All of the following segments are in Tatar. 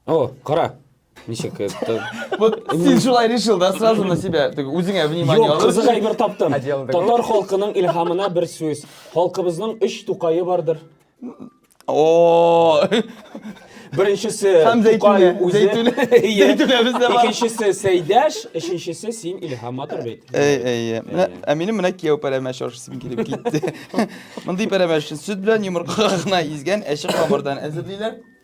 О, кара. Ничек это? Вот син шулай решил, да, сразу на себя. Ты үзеңә внимание Юк, алып. кызык әйбер таптым. Одежда такой. Татар халкының илһамына бер сүз. Халкыбызның үч тукае бардыр. О, Беренчесе Һәм Тукай Зәйтүнә. үзе. Зәйтүнә. Иә. Зәйтүнә бездә бар. Икенчесе Сәйдәш, өченчесе син Илһам матур бит. Әй, әй, менә, ә минем менә кияү пәрәмәч ашасым килеп китте. Мондый пәрәмәчне сөт белән йомыркага гына изгән әче камырдан әзерлиләр.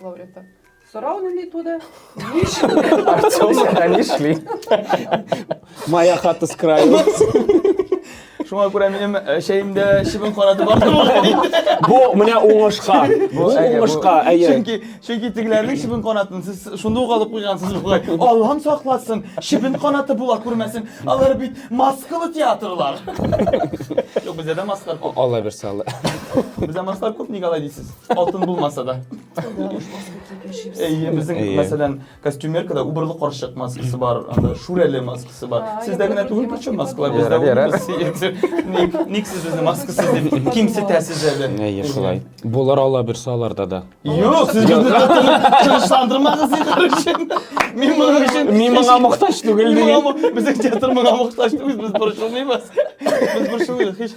Лауреата. Сорау нинди туды? Артемовка не шли. Моя хата с краю. Шуңа күрә минем э, чәемдә чебен караты бар Бу менә уңышка. Бу уңышка, әйе. Чөнки чөнки тегеләрнең чебен канатын сез шунда ук алып куйгансыз бугай. Аллам сакласын, чебен канаты була күрмәсен. Алар бит маскалы театрлар. Юк, бездә дә маскалар күп. Алла бирсә, Алла. Бездә маскалар күп, ник алай дисез? Алтын булмаса да. Әйе, безнең, Әйе. мәсәлән, костюмеркада убырлы карчык маскасы бар, анда шүрәле маскасы бар. А, Сездә генә түгел, причем маскалар бездә Ярар, ярар. улыбыз сидит. Ник, ник сез безне маскасы дип кимсетәсез әле? Әйе, шулай. Булыр ала берсе аларда да. Юк, сез безне тынычландырмагыз инде өчен. Мин моның өчен Мин моңа мохтаҗ түгел Мин диген. моңа- Безнең театр моңа мохтаҗ түгел, без борчылмыйбыз. Без борчылмыйбыз. Һич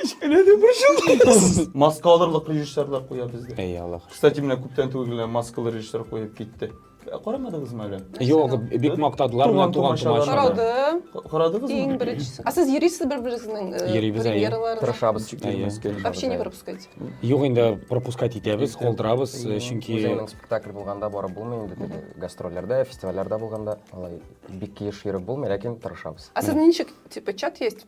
Кечкенә дип борчылдыгыз. Маска алырлык режиссерлар куя бездә. Әй Аллах. Кстати, менә күптән түгел генә маскалы режиссер куеп китте. Ә Карамадыгызмы әле? Юк, бик мактадылар менә Туган туган тумачалар. тумачалар. Карадым. Ка- Карадыгызмы? Иң беренчесе. А сез йөрисез бер-берегезнең э, Йөрибез, әйе. премьераларга? Тырышабыз. Ничек Әйе. йөрмәскә инде. Вообще не пропускайте. Юк инде пропускать итәбез, Итеп. калдырабыз, э, Әйе. чөнки Үзеңнең спектакль булганда барып булмый инде теге гастрольләрдә, фестивальләрдә булганда алай бик еш йөреп булмый, ләкин тырышабыз. А сез ничек, типа, чат есть?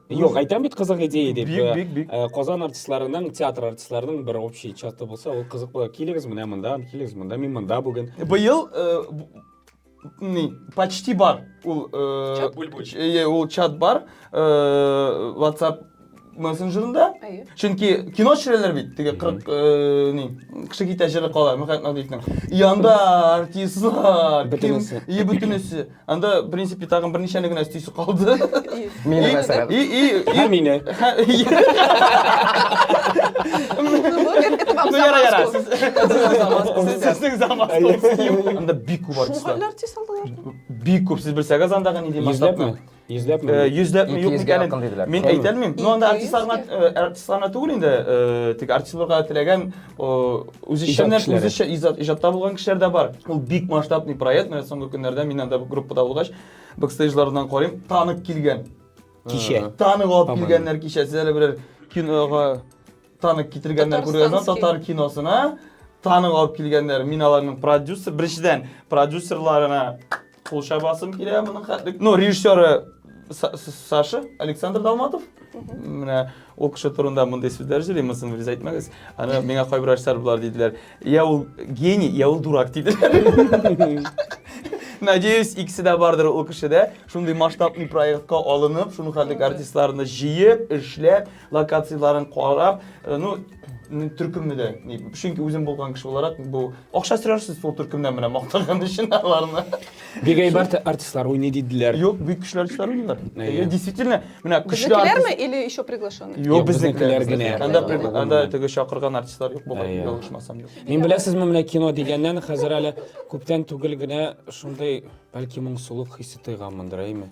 Юк, әйтәм бит кызык идея дип. Бик, бик, бик. Э, Казан артистларының, театр артистларының бер общий чаты булса, ул кызык була. Килегез менә монда, килегез монда, мин монда бүген. Быел э, ни, почти бар ул э, чат бульбуль. Э, ул чат бар э, WhatsApp мессенджерында. Чөнки кино төшерәләр бит, теге 40 э, ни, кеше китә җыры кала, Мөхәммәт Надиевның. Янда артистлар, бөтенесе. И бөтенесе. Анда, в принципе, тагын берничәне генә өстисе калды. Мине мәсәлән. И, и, и. Һәм мине. Ну, яра, яра. Сезнең замас. Анда бик күп артистлар. Шуңгәлләр тиз алдылар. Бик күп, сез белсәгез андагы нинди масштабны. Йөзләпме? Э, Йөзләпме, юк микәнен. Мин әйтәлмим. Ну, анда артистларына түгел инде, э, тик артистларга теләгән үзешчәннәр үзешчә иҗатта булган кешеләр дә бар ул бик масштабный проект менә соңгы көннәрдә мин анда группада булгач бэкстейджлардан карыйм танып килгән кичә танып алып килгәннәр кичә сез әле берәр кинога танып китергәннәр күргәннәр татар киносына танып алып килгәннәр мин аларның продюсер беренчедән продюсерларына Кул чабасым килә моның хәтлек. Ну, режиссеры Саша Александр Далматов. Менә ул кеше турында мондый сүзләр җыри, монысын вирус әйтмәгез. Аны миңа кайбер ачтар болар диделәр. Я ул гений, я ул дурак диделәр. Надеюсь, икесе дә бардыр ул кешедә. Шундый масштабный проектка алынып, шуның хәтлек артистларны җыеп, эшләп, локацияләрен карап, э, ну, төркемне дә, чөнки үзем булган кеше буларак, бу акча сөрәрсез шул төркемнән менә мактаган өчен аларны. Бик әйбәт артистлар уйный диделәр. Юк, бик көчле артистлар уйныйлар. Әйе, действительно, менә көчле артистларме или еще приглашенный? Юк, безнекеләр генә. Анда анда теге чакырган артистлар юк булган, ялгышмасам юк. Мин беләсезме, менә кино дигәннән хәзер әле күптән түгел генә шундый бәлки моңсулык хисе тойганмындыр, әйме?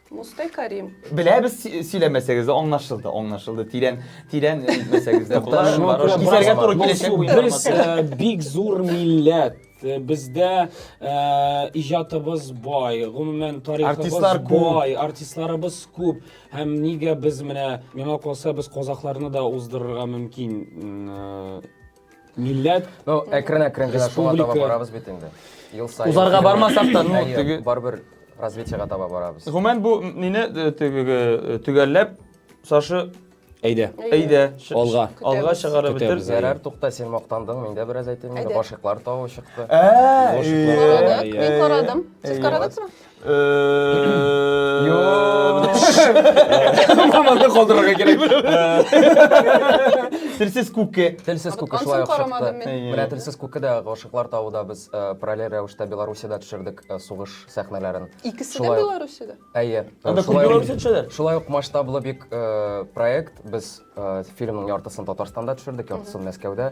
Мустай Карим. Беләбез си- сөйләмәсәгез дә аңлашылды, аңлашылды. Тирән, тирән әйтмәсәгез дә була. Шуңа Барып күрә Кисәргә туры Мансур, киләчәк бу Без информация. э, бик зур милләт. Э, Бездә э, иҗатыбыз бай, гомумән тарихыбыз Артистлар күп. бай, артистларыбыз күп. Һәм нигә без менә миңа калса без казахларны да уздырырга мөмкин. М, э, милләт Ну, әкрен-әкрен генә шуңа таба Республика. барабыз бит инде. Ел саен. Узарга бармасак та, ну, Әйе, теге- Барыбер развитиега таба барабыз. Гомумән бу мине э, теге э, төгәлләп Саша әйдә әйдә ш- Алга. алга чыгарып бетер. Көтәбез. Ярар, тукта, син мактандың, мин дә бераз әйтим. Әйдә. Инде башыклар тавы чыкты. Ә, Лошаклар. Карадык, мин карадым. Сез карадыгызмы? Маманы калдырырга кирәк. Телсез күкке. Телсез күкке шулай ук чыкты. Менә телсез күкке дә гашыклар тавыда без э, параллель рәвештә Белоруссиядә төшердек э, сугыш сәхнәләрен. Икесе дә Белоруссиядә? Әйе. Анда күп Белоруссия төшәләр. Шулай ук масштаблы бик э, проект. Без фильмның яртысын Татарстанда төшердек, яртысын Мәскәүдә.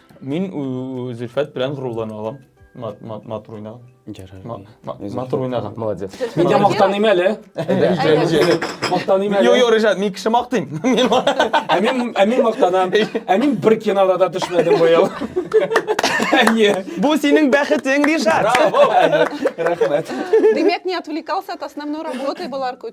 Мин Зөлфәт белән горурлана алам. Матур уйнаган. Ярар. Матур уйнаган. Молодец. Мин дә мактаныйм әле. Мактаныйм әле. Юк, юк, Ришат, мин кеше мактыйм. Ә мин ә мин мактанам. Ә мин бер кинода да төшмәдем бу ел. Әйе. Бу синең бәхетең, Ришат. Браво. Рәхмәт. Димәк, не отвлекался от основной работы, была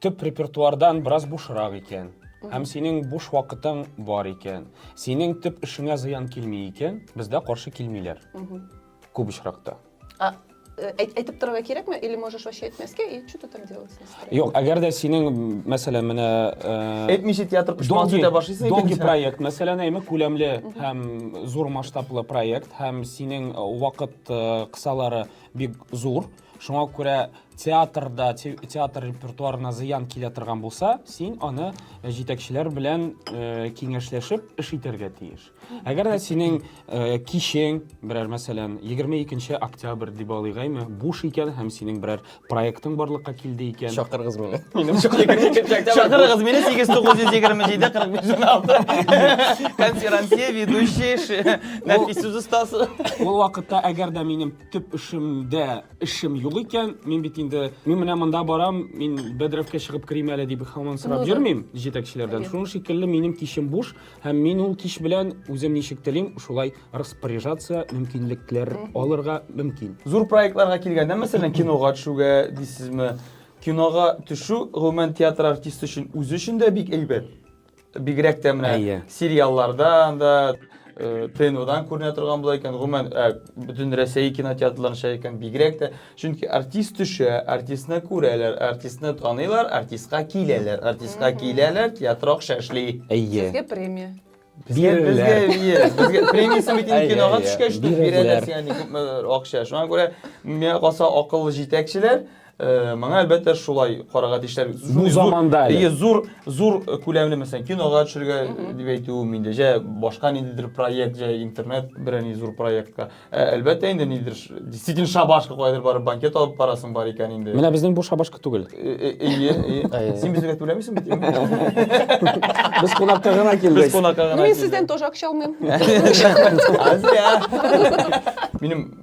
Төп репертуардан бераз бушрак икән һәм синең буш вакытың бар икән, синең төп эшеңә зыян килми икән, бездә каршы килмиләр. Күп очракта. А э, әйт- әйтеп торырга кирәкме? Или можешь вообще әйтмәскә? И что ты там делал? с настроением? Юк, әгәр дә синең, мәсәлән, менә э, Әйтмичә театр оешмасы долгий, үтә башлыйсың икән. долгий проект, мәсәлән, әйме күләмле һәм зур масштаблы проект һәм синең э, вакыт э, кысалары бик зур, Шуңа күрә театрда, театр репертуарына зыян килә торган булса, син аны э, җитәкчеләр белән э, киңәшләшеп эш итәргә тиеш. Әгәр дә синең э, кичең, берәр мәсәлән, 22 октябрь дип алыйк әйме, буш икән һәм синең берәр проектың барлыкка килде икән. Чакырыгыз мине. Минем Чакырыгыз мине 8927 45 Конферансье, ведущий, Нәфис сүз остасы. Ул вакытта әгәр дә минем төп эшемдә эшем юк икән, мин бит инде, мин менә монда барам, мин бәдрәфкә чыгып керим әле дип хаман сорап ну, йөрмим җитәкчеләрдән. Шуның шикелле минем кичем буш һәм мин ул кич белән үзем ничек телим, шулай распоряжаться, мөмкинлекләр алырга мөмкин. Зур проектларга килгәндә, мәсәлән, кинога төшүгә дисезме? Кинога төшү гомумән театр артисты өчен үзе өчен дә бик әйбәт. Бигрәк тә менә Әйе. сериалларда анда э, ТНВдан күренә торган була икән, гомумән э, бөтен Рәсәй кинотеатрларында чыга икән, бигрәк тә. Чөнки артист төшә, артистны күрәләр, артистны таныйлар, артистка киләләр, артистка киләләр, театр акча эшли. Әйе. Сезгә премия. Безгә Биреләр. бирә. Безгә премиясын бит инде Әйе, кинога әйе. төшкәч тә Биреләр. бирәләр, ягъни күпме акча. Шуңа күрә миңа калса акыллы җитәкчеләр Э, моңа әлбәттә шулай карага тиешләр бу заманда әле зур зур күләмле мәсәлән кинога төшергә дип әйтүем инде җә башка ниндидер проект җә интернет берәр ни зур проектка ә, әлбәттә инде нидер действительно шабашка кайдыр барып банкет алып барасың бар икән инде менә безнең бу шабашка түгел э, э, ие ие син безгә түләмисең бит без кунакка гына килдек без кунакка гына мин сездән тоже акча алмыйм минем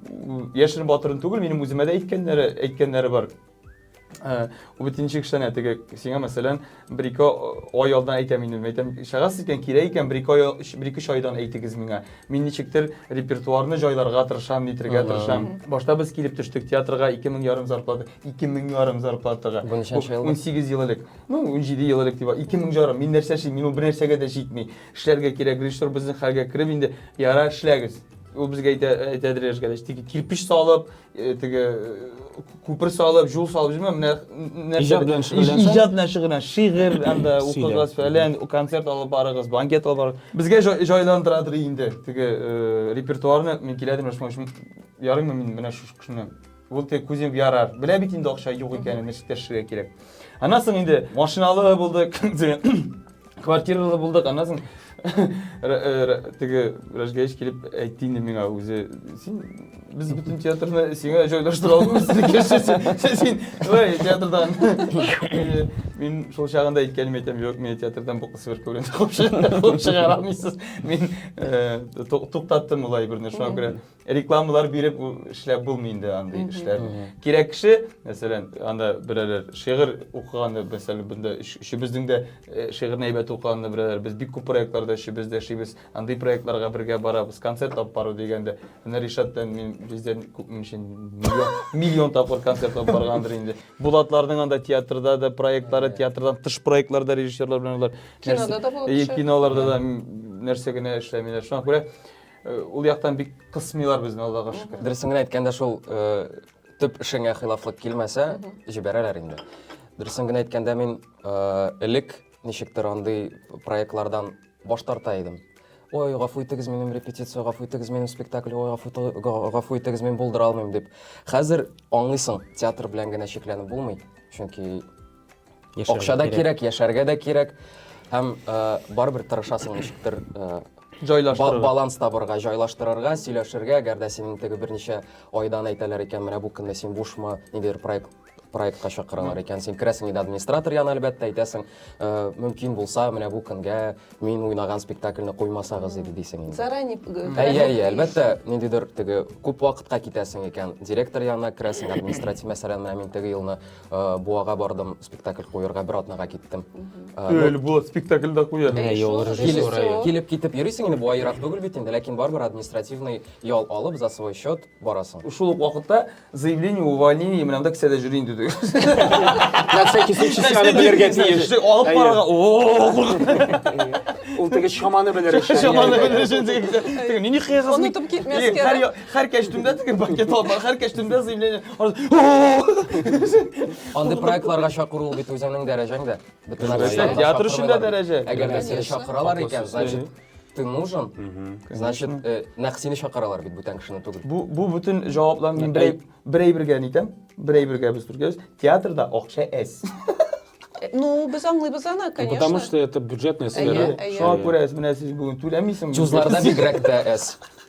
яшерен батырын түгел, минем үземә дә әйткәннәре, әйткәннәре бар. Э, Үбетенче кешеләрне теге сиңа мәсәлән бер ике ай алдан әйтәм инде, әйтәм, шагас икән, кирәк икән, бер ике ай, бер ике айдан әйтегез миңа. Мин ничектер репертуарны җайларга тырышам, нитергә тырышам. Башта без килеп төштек театрга 2000 ярым зарплата, 2000 ярым зарплатага. Бу ничәнче ел? 18 ел элек. Ну, 17 ел элек дип, 2000 ярым. Мин нәрсә эшлим? Мин ул бер нәрсәгә дә җитми. Эшләргә кирәк, режиссер безнең хәлгә кереп инде, яра эшләгез. Ул безгә әйтә, әйтәдер яшьгә дә, теге кирпич салып, э, теге э, күпер салып, юл салып, җимә, менә нәрсә- Иҗат белән шөгыльләнсәң? Иҗат белән шөгыльлән, шигырь анда Сөйлә. укыгыз, фәлән, концерт алып барыгыз, банкет алып барыгыз. Безгә җай- җайландырадыр инде теге э, репертуарны, мин киләдер, менә шуңа шуң- ярыймы мин менә шушы кешене Ул тек күзем ярар. Белә бит инде акча юк икәнен, нәрсә төшерергә кирәк. Аннан соң инде машиналы булдык, квартиралы булдык, аннан соң теге Рәжгәеш килеп әйтте инде миңа үзе, син без бөтен театрны сиңа җайлаштыра алмыйбыз, син шулай театрдан. Мин шул чагында әйткәнем әйтәм, юк, мин театрдан бу кыз бер күренде, куып чыгара алмыйсыз. Мин туктаттым улай берне, шуңа күрә рекламалар биреп эшләп булмый инде андый эшләр. Кирәк кеше, мәсәлән, анда берәр шигырь укыганда, мәсәлән, бында өчебезнең дә э, шигырьне әйбәт укыганда берәр без бик күп проектларда өчебез дә эшлибез. Андый проектларга бергә барабыз. Концерт алып бару дигәндә, менә Ришат белән мин бездән күпме өчен миллион, миллион тапкыр концерт алып баргандыр инде. Булатларның анда театрда да проектлары, театрдан тыш проектларда режиссерлар белән алар. Кинода да булып э, төшә. Киноларда да нәрсә генә эшләмиләр. Шуңа күрә Э, ул яктан бик кысмыйлар безне аллага шөкер дөресен генә әйткәндә шул э, төп эшеңә хилафлык килмәсә җибәрәләр инде дөресен генә әйткәндә мин э, элек ничектер андый проектлардан баш тарта идем ой гафу итегез минем репетиция гафу итегез минем спектакль ой гафу итегез мин булдыра алмыйм дип хәзер аңлыйсың театр белән генә чикләнеп булмый чөнки Яшәргә Акча да кирәк, яшәргә дә кирәк. Һәм э, барыбер тырышасың ничектер э, ба- Җайлаштырырга. баланс табырга, җайлаштырырга, сөйләшергә, әгәр дә синең теге берничә айдан әйтәләр икән, менә бу көнне син бушмы, ниндидер проект проектка чакыралар икән, син керәсең инде администратор янына, әлбәттә, әйтәсең, э, мөмкин булса, менә бу көнгә мин уйнаган спектакльне куймасагыз иде дисең инде. Заранее Әйе, әйе, әлбәттә, ниндидер теге күп вакытка китәсең икән, директор янына керәсең, административ мәсьәләне менә мин теге елны Э, буага бардым спектакль куярга бер атнага киттем өле булат спектакльдә куя менә юл режиссеры килеп китеп йөрисең инде буа ерак түгел бит инде ләкин барыбер административный ял алып за свой счет барасың шул ук вакытта заявление увольнение менә монда кесәдә йөри инде на всякий случай сианы белергә тиеш алып барырга ул теге чаманы белер өчен чаманы белер өчен теге мин ни хыясыз онытып китмәскә һәр кәчтүмдә теге пакет алып һәр кәчтүмдә заявление Андый проектларга чакыру ул бит үзеңнең дәрәҗәң дә. Бөтен Конечно. артистларны Театр өчен дә чакырмыйлар. дәрәҗә. Әгәр дә сине Конечно. чакыралар икән, Фокус значит, ты нужен. Значит, э, нәкъ сине чакыралар бит бүтән кешене түгел. Бу бу бөтен җаваплар мин бер әй- бер әйбергә нитәм. Бер әйбергә без бергә. Театрда акча әз. Ну, без аңлыйбыз аны, Ну, конечно. Потому что это бюджетная сфера. Әйе, әйе. Шуңа күрә менә сез бүген түләмисең. Чузларда бигрәк тә әз.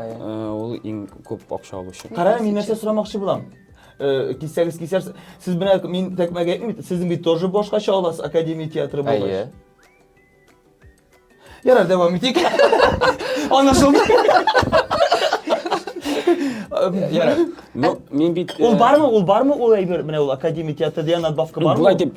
Ул иң күп акча алучы. Карагыз, мин нәрсә сорамакчы булам. Э, кисәгез кисәр сез менә мин тәкмәгә әйтмим сезнең бит тоже башкача аласыз академия театры булгач әйе ярар дәвам итик анашылды ярар ну мин бит ул э, бармы ул бармы ул әйбер менә ул академия театры дигән надбавка бармы былай дип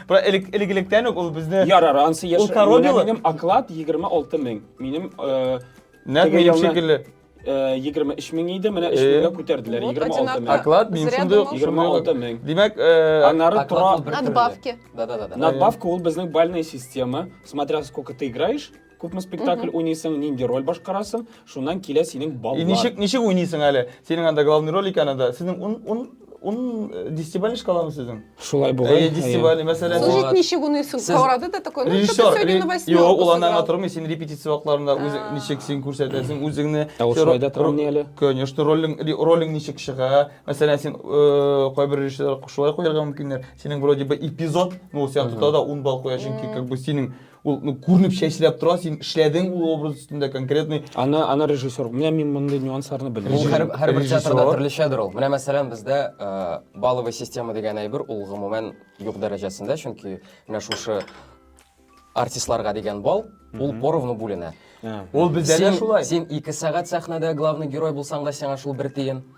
Бу элек элегелектән үк ул безне Ярар, ансы яшь. Ул король Менә юлы. Минем оклад 26 мең. Минем э, нәкъ теге минем елны- шикелле. э, 23 мең иде, менә 3 Э. меңгә күтәрделәр. Вот 26 одинаково. мең. Оклад минем Зря шундый ук. думал. шундый ук. 26 мең. Димәк, э, Аннары Оклад тора ул бер төрле. Надбавки. Да-да-да. Надбавка ул безнең бальная система. Смотря сколько ты играешь, Күпме спектакль уйныйсың, нинди роль башкарасың, шуннан килә синең баллар. И ничек ничек уйныйсың әле? Синең анда главный роль икән анда. Синең ун ун ун э, десятибалльный шкаламы сезнең? Шулай бугай. Әйе, десятибалльный, мәсәлән. Слушай, Слушать ничек уныйсың? Сез- Каурады да такой, ну, что-то Режиссер, сегодня на ре- восьмерку юк, ул аннан сыграл. атырмый, син репетиция вакытларында үзең ничек син күрсәтәсең үзеңне. Ә ул Син шулай да ро- тормый әле. Конечно, ролең ре- ролең ничек чыга? Мәсәлән, син э, кайбер режиссерлар шулай куярга мөмкиннәр. Синең вроде бы эпизод, ну, сиңа тотта да 10 балл куя, чөнки как бы синең Ул ну, күренеп чәчрәп тора, син эшләдең ул образ өстендә конкретный. Аны аны режиссер. Менә мин мондый нюансларны Ул белмим. һәр, һәр бер режиссер. театрда төрлечәдер ул. Менә мәсәлән бездә э, баловый система дигән әйбер ул гомумән юк дәрәҗәсендә, чөнки менә шушы артистларга дигән бал ул поровну бүленә. Ә. Ул бездә дә Син, шулай. син ике сәгать сәхнәдә главный герой булсаң да сиңа шул бер тиен.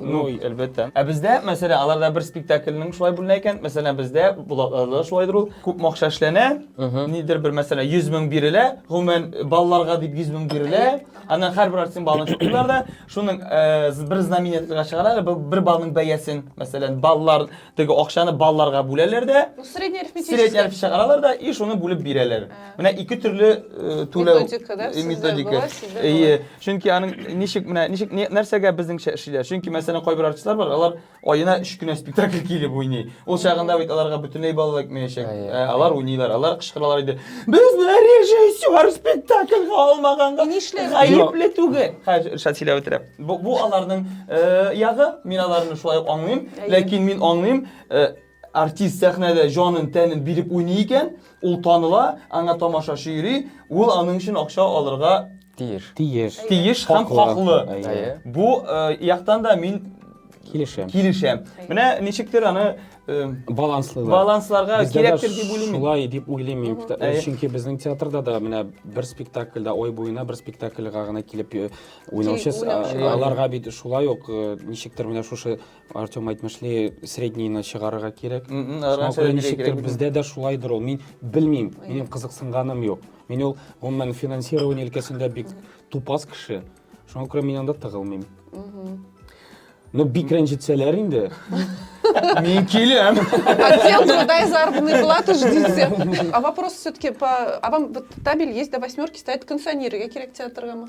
Ну, әлбәттә. Ә бездә, мәсәлән, аларда бер спектакльнең шулай бүленә икән, мәсәлән, бездә Булатларда шулайдыр ул. Күп акча эшләнә, нидер бер, мәсәлән, 100 мең бирелә, гомумән балаларга дип 100 мең бирелә. Аннан һәрбер артистның балын чукыйлар да, шуның э, бер знаменательга чыгаралар, бер балның бәясен, мәсәлән, балалар теге акчаны балларга бүләләр дә. Ну, средний арифметический. Средний арифметический чыгаралар да и шуны бүлеп бирәләр. Менә ике төрле э, түләү методика, да? Э, методика. Әйе. Чөнки аның ничек менә ничек нәрсәгә безнеңчә эшлиләр? Чөнки мәсәлән кайбер артистлар бар, алар аена 3 кенә спектакль килеп уйный. Ул чагында бит аларга бөтенләй баллар кмәячәк. Ә алар уйныйлар, алар кычкыралар иде. Без менә режиссер спектакльгә алмаганга гаепле түгел. Хәзер шат сөйләп Бу, бу аларның э, ягы, мин аларны шулай ук аңлыйм. Ләкин мин аңлыйм, э, артист сәхнәдә җанын, тәнен биреп уйный икән, ул таныла, аңа тамашачы йөри, ул аның өчен акча алырга Тиеш. Тиеш. тиеш һәм хаклы. Әйе. Бу э, яктан да мин Килешәм. килешәм. Менә ничектер аны э, Баланслы да. балансларга Бездә дә кирәктер дип уйлыйм. мин. Шулай дип уйлыйм мин. Әйе. Чөнки безнең театрда да менә бер спектакльдә ой буена бер спектакльгә гына килеп э, Уйнаучы, Тик уйнаучы а- бар. аларга бит шулай ук э, ничектер менә шушы Артем әйтмешли среднийны чыгарырга кирәк. М, м, Шуңа арган күрә сәбәпләре ничектер кирәк бит. бездә дә шулайдыр ул. Мин белмим, минем кызыксынганым юк. Мин ул гомумән финансирование өлкәсендә бик тупас кеше. Шуңа күрә мин анда тыгылмыйм. Ну бик рәнҗетсәләр инде. Мин киләм. Отдел труда и заработной платы ждите. А вопрос все-таки по... А вам вот табель есть до восьмерки, стоит кондиционеры, я кирек театргамы?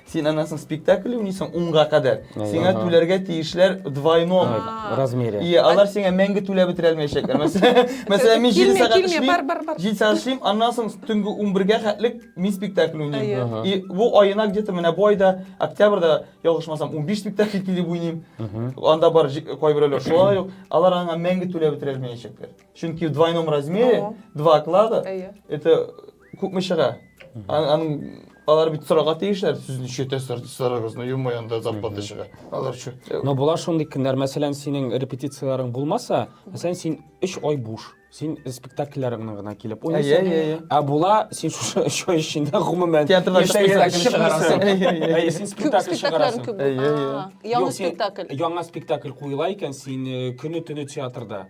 Син аннан спектакль уйныйсың унга кадәр. Сиңа түләргә тиешләр двойном. Размере. И алар сиңа мәңге түләп бетерә алмаячаклар. Мәсәлән, мин 7 сәгать эшлим. 7 сәгать эшлим, аннан соң төнге 11-гә хәтлек мин спектакль уйныйм. И бу айына где-то менә бу айда октябрьдә ялгышмасам 15 спектакль килеп уйныйм. Анда бар кайберәүләр шулай ук. Алар аңа мәңге түләп бетерә алмаячаклар. Чөнки в двойном размере, два оклада. Это Күпме чыга? Ан- Аның алар бит сорарга тиешләр, сез ничә тәсәр дисәләрегез, ну юмо анда зарплата чыга. Алар чу. Но була шундый көннәр, мәсәлән, синең репетицияләрең булмаса, мәсәлән, син 3 ай буш. Син спектакльләреңне генә килеп Әйе, уйныйсың. әйе, әйе. Ә була, син шушы 3 ай эчендә гомумән Театрдан яшь чыкмыйсың. спектакль чыгарасың. Әйе, әйе, әйе. Әйе, син Күп спектакль спектакльләр чыгарасың. күп. Әйе, әйе. А, Яңа Юк, син- спектакль. Яңа спектакль куела икән, син э, көне-төне театрда.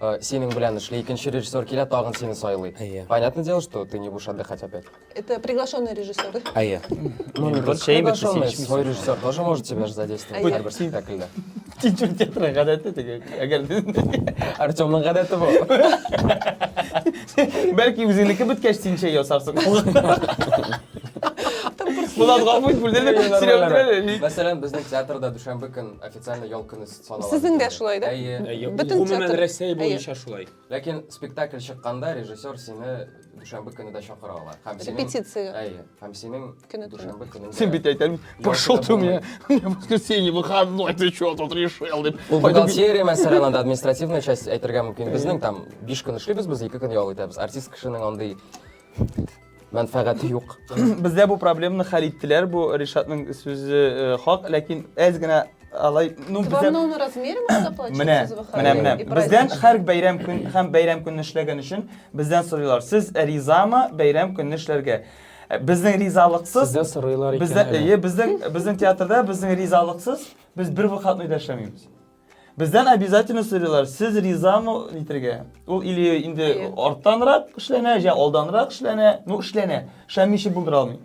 Э, синең белән эшли, икенче режиссер килә, тагын сине сайлый. Әйе. Понятное дело, что ты не будешь отдыхать опять. Это приглашенный режиссер. Әйе. Ну, не только Шәй бит, приглашенный, син свой режиссер тоже может тебя же задействовать Әйе. һәрбер спектакльдә. Тинчү театры гадәте теге. Әгәр Артемның гадәте бу. бәлки үзеңнеке беткәч син чәй ясарсың. Булат гафу ит, бүлдердек. Мәсәлән, безнең театрда дүшәмбе көн официально ял көне Сезнең дә шулай, да? Әйе. Бөтен Гомумән театр- Рәсәй буенча шулай. Ләкин спектакль чыкканда режиссер сине дүшәмбе көне дә чакыра ала. Һәм синең- Репетициягә. Әйе. Һәм синең Көне туры. дүшәмбе көнеңдә- Син бит әйтәм, пошел ты у меня, у меня воскресенье, выходной, ты что тут решил, дип. Ул бухгалтерия мәсәлән, анда административная часть әйтергә мөмкин. Безнең там биш көн эшлибез, без ике көн ял итәбез. Артист кешенең андый мәнфәгате юк. Бездә бу проблеманы хәл иттеләр. Бу Ришатның сүзе э, хак, ләкин әз генә алай, ну Вам бездә нужно размером это платить? Менә, сез выходите менә, менә. и Бездән праздничный. һәр бәйрәм көн һәм бәйрәм көнне эшләгән өчен бездән сорыйлар. Сез ризамы бәйрәм көнне эшләргә? Э, Безнең ризалыксыз Сездән сорыйлар икән. Бездә, әле. әйе, безнең безнең театрда безнең ризалыксыз без бер вакытны да эшләмибез. Бездән обязательно сорыйлар, сез ризамы нитергә? Ул или инде арттанрак эшләнә, я алданрак эшләнә, ну эшләнә. Шәмичи булдыра алмый.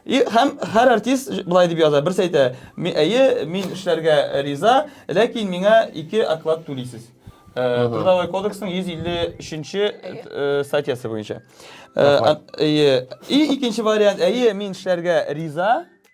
И һәм һәр артист былай дип яза, берсе әйтә, әйе, мин эшләргә риза, ләкин миңа ике оклад түлисез. Э, Трудовой кодексның 153-нче э, статьясы буенча. Э, и икенче вариант, әйе, мин эшләргә риза,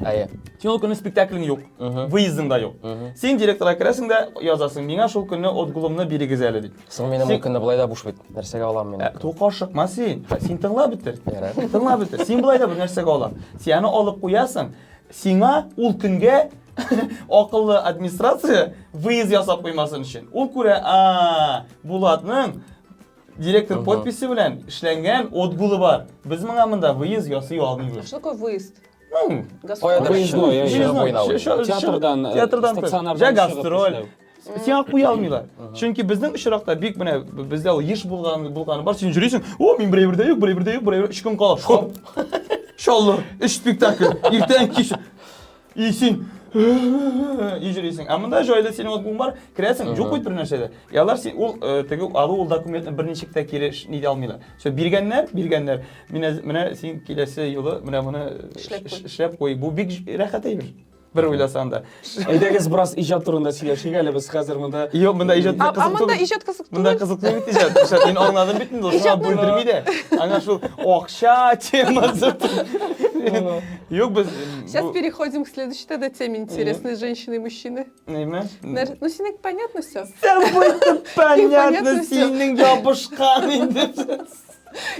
Әйе. Син ул көнне спектаклең юк, выездың да юк. Син директорга керәсең дә язасың, миңа шул көнне отгулымны бирегез әле дип. Соң минем ул көнне былай да буш бит. Нәрсәгә алам мин? Ә, Тука ашыкма син. Син тыңла бетер. Тыңла бетер. Син былай да бер нәрсәгә алам. Син аны алып куясың. Сиңа ул көнгә акыллы администрация выезд ясап куймасын өчен. Ул күрә, а, Булатның директор подписи белән эшләнгән отгулы бар. Без моңа монда выезд ясый алмыйбыз. Что такое выезд? Ну, Каяда Выездной, театрдан, театрдан стационардан жә гастроль. Сиңа куя алмыйлар. Чөнки безнең очракта бик менә бездә ул еш булган булганы бар. Син җөрисең, о, мин бер бердә юк, бер бердә юк, бер өч көн кала. Шоп. Шаллы, өч спектакль. Иртән кич. И син и җөрисең. Ә монда җайлы синең отбуң бар, керәсең, юк бит бер нәрсә дә. Ялар син ул теге алу ул документны берничек тә кире нидә алмыйлар. Все, биргәннәр, биргәннәр. Менә менә син киләсе юлы менә моны эшләп куй. Бу бик рәхәт әйбер. Бер уйласаң да. Әйдәгез бераз иҗат турында сөйләшик әле без хәзер монда. Юк, монда иҗат кызык түгел. Монда иҗат кызык түгел. Монда кызык түгел иҗат. Иҗат мин аңладым бит инде. Шуңа бүлдерми дә. Аңа шул акча темасы. Юк, без Сейчас переходим к следующей тогда теме интересной женщины и мужчины. Нәйме? Ну, синең понятно все. Сәбәйт понятно, синең ябышкан инде.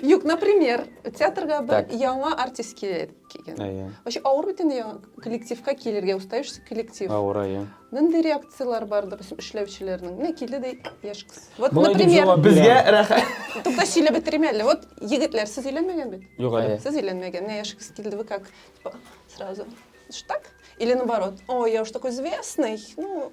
Юк, например, театрга бер Так. яңа артист килер килгән. Әйе. Вообще авыр бит инде яңа коллективка килергә, устающий коллектив. Авыр, әйе. Нинди реакцияләр бар, допустим, эшләүчеләрнең? Менә килде дә яшь кыз. Вот, Болай дип например, җавап Безгә бирәм. рәхәт. тукта сөйләп бетерим әле. Вот, егетләр, сез өйләнмәгән бит? Юк әле. Әйе. Сез өйләнмәгән. Менә яшь кыз килде, вы как? Типа, сразу. Что так? Или наоборот, ой, я уж такой известный. Ну,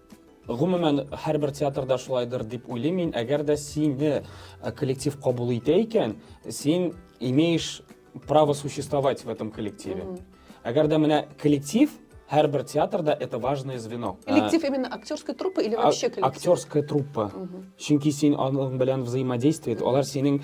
Гомумән, һәрбер театрда шулайдыр дип уйлыйм мин. Әгәр дә сине коллектив кабул итә икән, син имеешь право существовать в этом коллективе. Әгәр дә менә коллектив һәрбер театрда это важное звено. Коллектив именно актерская труппа или вообще коллектив? Актерская труппа. Чөнки син аның белән взаимодействие, алар синең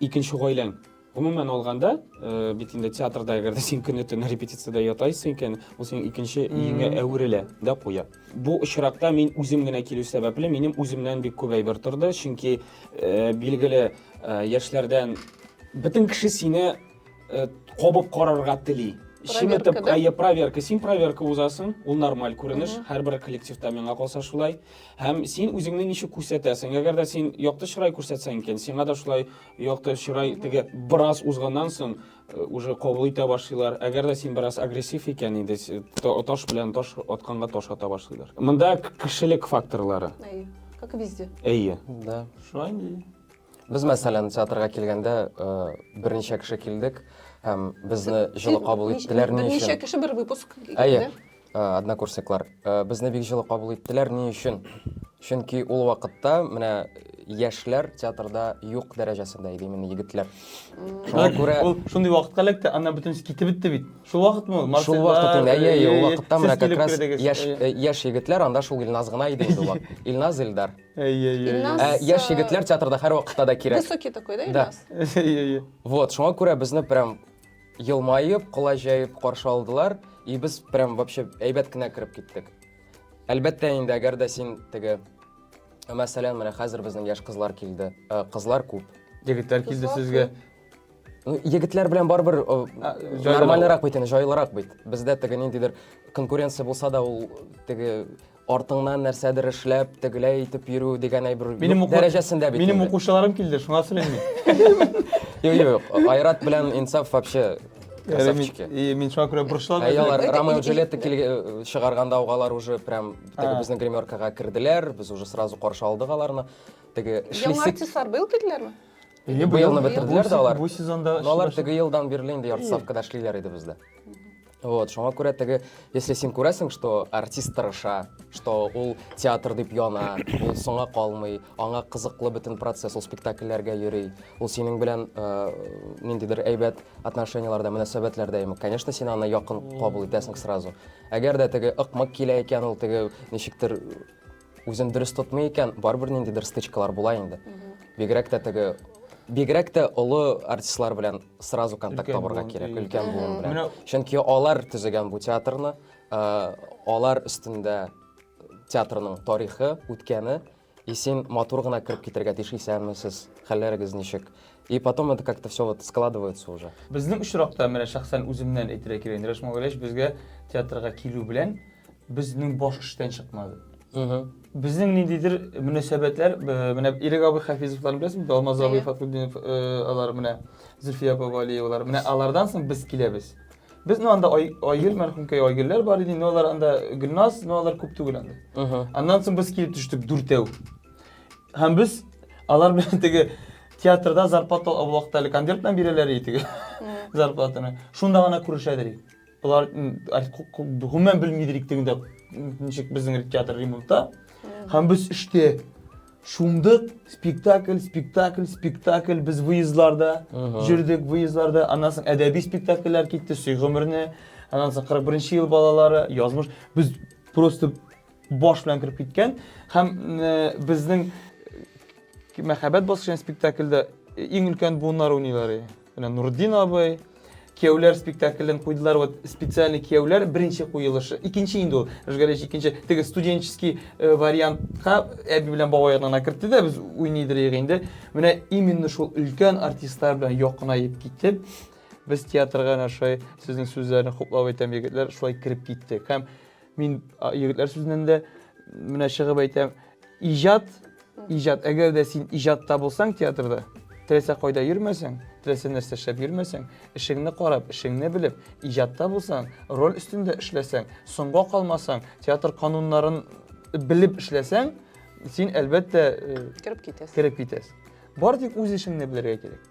икенче гаиләң. Гомумән алганда, э, бит инде театрда әгәр дә син көне төне репетициядә ятайсың икән, ул синең икенче иңе әверелә дә куя. Бу очракта мин үзем генә килү сәбәпле, минем үземнән бик күп әйбер торды, чөнки э, билгеле э, яшьләрдән бөтен кеше сине э, кабып карарга тели. Чиметеп, әйе, проверка. Син проверка узасың, ул нормаль күренеш, һәрбер коллективта миңа калса шулай. Һәм син үзеңне ничек күрсәтәсең? Әгәр дә син якты чырай күрсәтсәң икән, сиңа да шулай Якты чырай теге бераз узганнан соң э, уже кабул итә башлыйлар. Әгәр дә син бераз агрессив икән инде, с- та- таш белән таш атканга таш ата башлыйлар. Монда к- кешелек факторлары. Әйе. Как и везде. Әйе. Да. Шулай инде. Без, мәсәлән, театрга килгәндә э, берничә кеше килдек һәм безне җылы кабул Нич- иттеләр. Ни Берничә өчен? кеше бер выпуск. Әйе. килде. Однокурсниклар безне бик җылы кабул иттеләр. Ни өчен? Чөнки ул вакытта менә яшьләр театрда юк дәрәҗәсендә иде именно егетләр. Шуңа күрә ул шундый вакытка эләкте, ана бөтенесе китеп бетте бит. Шул вакытмы ул? Шул вакыт инде, әйе, әйе, ул вакытта менә как раз яшь яшь егетләр, анда шул Илназ гына иде инде ул. Илназ, Илдар. Әйе, әйе. Ә яшь егетләр театрда һәрвакытта да кирәк. Высокий такой, да, Илназ? Да. Әйе, әйе. Вот, шуңа күрә безне прям елмаеп, кулай җәеп каршы алдылар, и без прям вообще әйбәт кенә кереп киттек. Әлбәттә инде, әгәр дә син теге мәсәлән, менә хәзер безнең яшь кызлар килде. Э, кызлар күп. Егетләр килде сезгә. Ну, егетләр белән барыбер нормальнырак бит инде, җайлырак бит. Бездә теге ниндидер конкуренция булса да, ул теге артыңнан нәрсәдер эшләп, тегеләй итеп йөрү дигән әйбер Минем юк уку- дәрәҗәсендә бит. Минем инде. укучыларым килде, шуңа сөйләмим. Юк, юк, Айрат белән Инсаф вообще красавчики. И мин шуңа күрә борчылам. Ә алар Это Ромео и- и Джульетта килге- чыгарганда угалар уже прям теге А. безнең гримеркага керделәр, без уже сразу каршы алдык аларны. Теге Яңа эшлисе артистлар быел килделәрме? Е, быелны быел- бетерделәр бу да алар. Бу сезонда Но алар эшләшә. теге елдан бирле инде ярты ставкада эшлиләр иде бездә. Вот, шуңа күрә теге, если син күрәсең, что артист тырыша, что ул театр дип яна, ул соңа калмый, аңа кызыклы бөтен процесс, ул спектакльләргә йөри, ул синең белән э, ниндидер әйбәт отношенияләрдә, мөнәсәбәтләрдә ими. Конечно, син аны якын кабул итәсең сразу. Әгәр дә теге ыкмык килә икән, ул теге ничектер Үзен дөрес тотмый икән, барыбер ниндидер стычкалар була инде. Бигрәк тә теге бигрәк тә олы артистлар белән сразу контакт Өлкән табарга буын, кирәк, и. өлкән буын белән. Менә- Чөнки алар төзегән бу театрны, э, алар өстендә театрның тарихы, үткәне, и син матур гына кереп китәргә тиеш, исәнме сез, хәлләрегез ничек? И потом это как-то все вот складывается уже. Безнең очракта, менә шәхсән үземнән әйтергә кирәк инде, Рәшмә Гөләч безгә театрга килү белән, Безнең баш эштән чыкмады. Безнең ниндидер мөнәсәбәтләр, менә Ирек абый Хафизовларны беләсезме? Алмаз абый Фатхуддинов, алар менә Зөлфия апа Валиевалар. Менә алардан соң без киләбез. Без ну анда Айгөл мәрхүмкәй Айгөлләр бар иде, но алар анда Гөлназ, но алар күп түгел анда. Аннан соң без килеп төштек дүртәү. Һәм без алар белән теге театрда зарплата вакыты әле конвертны бирәләр иде теге зарплатаны. Шунда гына күрешәдер. Болар гомумән белми идек тегендә ничек безнең театр ремонтта. Һәм без эштә шундык спектакль, спектакль, спектакль без выездларда җөрдек, выездларда. Аннан соң әдәби спектакльләр китте, Сөй гомерне, аннан соң 41 ел балалары, язмыш. Без просто баш белән кереп киткән һәм безнең мәхәббәт баскычы спектакльдә иң өлкән буыннар уйныйлар. Менә Нурдин абый, кияүләр спектаклен куйдылар. Вот специальный кияүләр беренче куелышы. Икенче инде ул. Рыжгалич икенче. Теге студенческий э, вариантка әби белән бабай янына кертте дә без уйныйдырыйк инде. Менә именно шул өлкән артистлар белән якынаеп китеп, без театрга менә шулай сезнең сүзләрне хуплап әйтәм, егетләр, шулай кереп киттек. Һәм Мин егетләр сүзеннән дә менә чыгып әйтәм, иҗат, иҗат, әгәр дә син иҗатта булсаң театрда, теләсә кайда йөрмәсәң, теләсә нәрсә эшләп йөрмәсәң, эшеңне карап, эшеңне белеп, иҗатта булсаң, роль өстендә эшләсәң, соңга калмасаң, театр кануннарын белеп эшләсәң, син әлбәттә кереп китәсең. Кереп китәсең. Бары тик үз эшеңне белергә кирәк.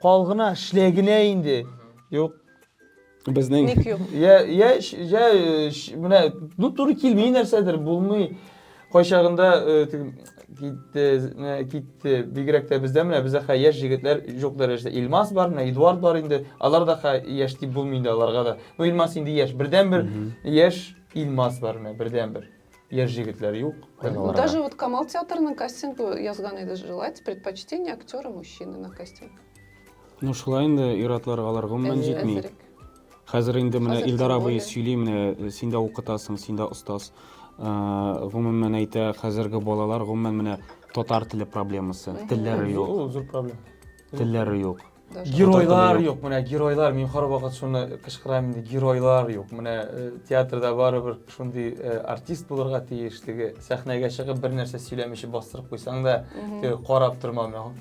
Кал гына, эшлә генә инде. Юк. Безнең Ник юк? Я, я, ш- я, э, ш- менә ну туры килми нәрсәдер, булмый. Кайчагында э, теге, китте, менә китте. Бигрәк тә бездә менә бездә хә яшь җегетләр юк дәрәҗәдә. Илмас бар, менә Эдуард бар инде. Алар да хә яшь дип булмый инде аларга да. Ну Илмас инде яшь. Бердәнбер яшь Илмас бар менә, бердәнбер. Яшь җегетләр юк. Ну, даже вот Камал театрының кастингы язган иде, желать предпочтение актера мужчины на кастинг. Ну, шулай инде ир-атларга алар гомумән җитми. Хәзер инде менә Илдар абый сөйли, менә э, син дә укытасың, син дә остаз. Э, гомумән әйтә, хәзерге балалар гомумән менә татар теле проблемасы. Телләре юк. Зур проблема. Телләре юк. геройлар юк менә геройлар мин һәрвакыт шуны кычкырам инде геройлар юк менә э, театрда барыбер шундый э, артист булырга тиеш теге сәхнәгә чыгып бер нәрсә сөйләмичә бастырып куйсаң да теге карап тормау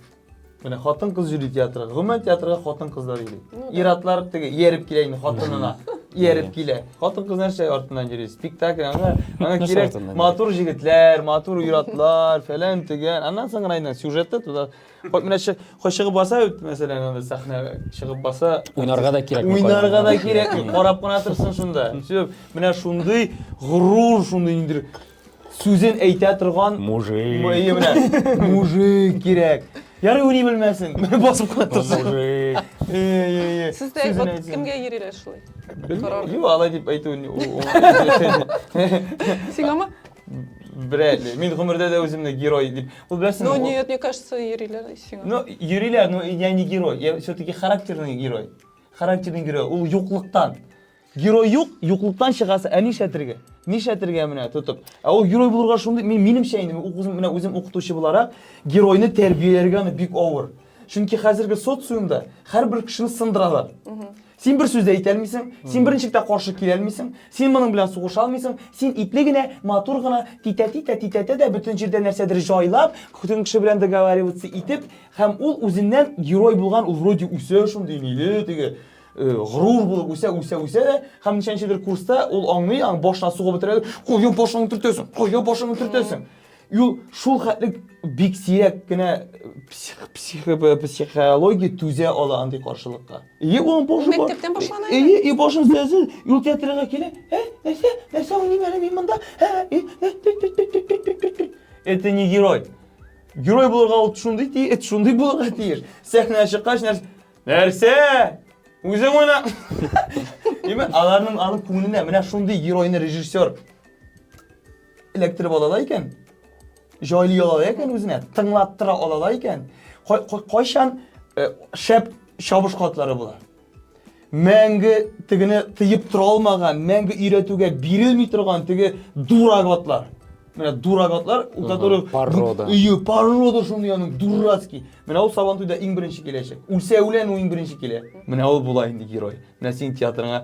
менә хатын кыз йөри театрга гомумән театрга хатын кызлар йөри ну ир атлар теге ияреп килә инде хатынына ияреп килә хатын кыз нәрсә артыннан йөри спектакль аңа аңа кирәк матур җегетләр матур ир атлар фәлән төгән аннан соң гына сюжеты туда Хо- Менә чы- хо- чыгып баса, бит, мәсәлән, анда сәхнә чыгып баса, Уйнарга да кирәк. уйнарга да кирәк, карап кына торсын шунда. Сөеп, Менә шундый горур, шундый ниндер сүзен әйтә торган Мужик. Әйе, менә мужик кирәк. Ярый уйный белмәсен. Басып кына торсын. Мужик. Әйе, Сез дә вот кемгә йөриләр шулай? карар? Юк, алай дип әйтү. ни- у- у- Сиңамы? Берәли. Мин гомердә дә үземне герой дип Ул беләсең. Ну нет, мне кажется, йөриләр сиңа. Ну, йөриләр, но я не герой. Я все-таки характерный герой. Характерный герой. Ул юклыктан. Герой юк, юклыктан чыгасы, ә нишләтергә? Нишләтергә менә тотып. Ә ул герой булырга шундый, мин минемчә инде, үзем менә үзем укытучы буларак, геройны тәрбияләргә аны бик авыр. Чөнки хәзерге социумда һәрбер кешене сындыралар. Син бер сүз дә әйтә алмыйсың, син берничектә каршы килә алмыйсың, син моның белән сугыша алмыйсың, син ипле генә, матур гына титә-титә титәтә дә бөтен җирдә нәрсәдер җайлап, көтен кеше белән договариваться итеп, һәм ул үзеннән герой булган, ул вроде үсә шундый ниле теге э, горур булып үсә, үсә, үсә дә, һәм ничәнчедер курста ул аңлый, аң башына сугып бетерә, кая башыңны төртәсең, кая башыңны төртәсең. И ул шул хәтле бик сирәк кенә псих, псих, психология түзә ала андый каршылыкка. И ул башы бар. Мәктәптән башлана. И и башын сәзел, юл театрга килә. Ә, нәрсә? Нәрсә ул нимә мин монда? Ә, и, это не герой. Герой булырга ул шундый ти, эт шундый булырга тиеш. Сәхнәгә чыккач нәрсә? Нәрсә? Үзең уйна. Димәк, аларның аның күңеленә менә шундый геройны режиссер эләктереп алалар икән, җайлый алалар икән үзенә, тыңлаттыра алалар икән, кайчан э, шәп чабыш катлары була. Мәңге тегене тыеп тора алмаган, мәңге өйрәтүгә бирелми торган теге дурак атлар. Менә дурак атлар, у которых порода. Ее порода шундый аның дурацкий. Менә ул Сабантуйда иң беренче киләчәк. Үлсә үлән ул иң беренче килә. Менә ул була инде герой. Менә син театрыңа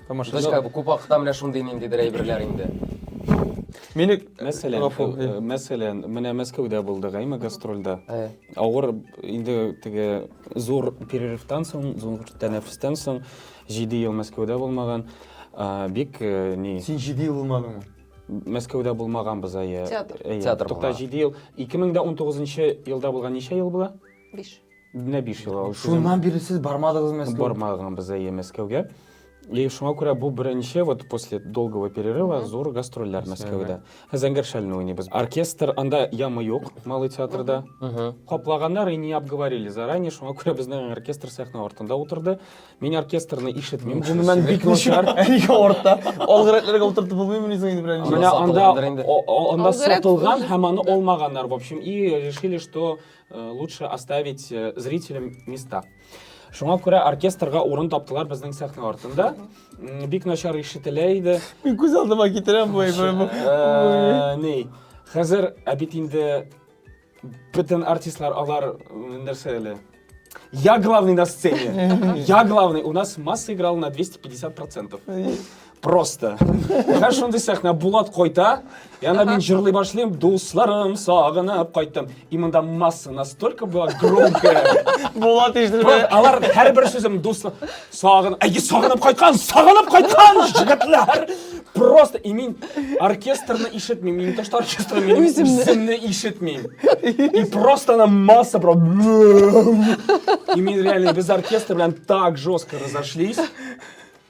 Тамашачы күп вакытта менә шундый ниндидер әйберләр инде. Мени мәсәлән, э, э, мәсәлән, менә Мәскәүдә булдык, әйме гастрольдә. Э. Авыр инде теге зур перерывтан соң, зур тәнәфестән соң 7 ел Мәскәүдә булмаган, бик ни. Син 7 ел булмадыңмы? Мәскәүдә булмаганбыз, әйе. Театр. Театр. Тукта 7 ел. 2019 елда булган ничә ел була? Биш. Менә биш ел алып Шуннан бирле сез бармадыгыз Мәскәүгә? Бармадым без әйе Мәскәүгә. И шуңа күрә бу беренче вот после долгого перерыва зур гастрольләр Мәскәүдә. Зәңгәр шәлне уйныйбыз. Оркестр анда ямы юк Малый театрда. Каплаганнар и не обговорили заранее, шуңа күрә безнең оркестр сәхнә артында утырды. Мин оркестрны ишетмим. Гомумән бик начар. Нигә артта? Алгы рәтләргә утыртып булмыймыни соң инде берәр Менә анда анда сатылган һәм аны алмаганнар в общем и решили, что Э, лучше оставить э, зрителям места. Шуңа күрә оркестрга урын таптылар безнең сәхнә артында. Бик начар ишетелә иде. Мин күз алдыма китерәм бу. Э, ни, хәзер ә бит инде бөтен артистлар алар нәрсә әле? Я главный на сцене. Я главный. У нас масса играла на 250%. просто менә шундый сәхнә булат кайта и анда мин җырлый башлыйм дусларым сагынып кайттым и монда масса настолько была громкая булат ишетелмә алар һәрбер сүзем дуслар сагын әйе сагынып кайткан сагынып кайткан җегетләр просто и мин оркестрны ишетмим мин не то что оркестрны мин үземне ишетмим и просто она масса про и мин реально без оркестра белән так жестко разошлись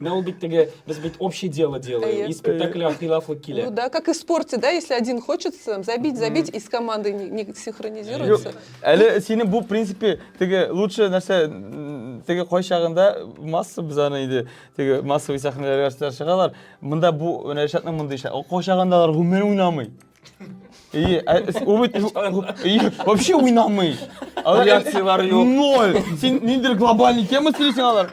Менә ул бит теге, без бит общее дело делаем, и спектакль хилафлык килә. Ну да, как и в спорте, да, если один хочет там, забить, забить, и с командой не, не синхронизируется. Юк, әле синең бу, в принципе, теге лучше нәрсә, теге кай чагында масса без аны иде, теге массовый сәхнәләргә чыгалар. Монда бу, менә Ришатның мондый шә, кай чагында алар гомер уйнамый. И, а, убыть, и вообще уйнамый. Реакциялар юк. Ноль. Син ниндер глобальный тема сөйлисең алар.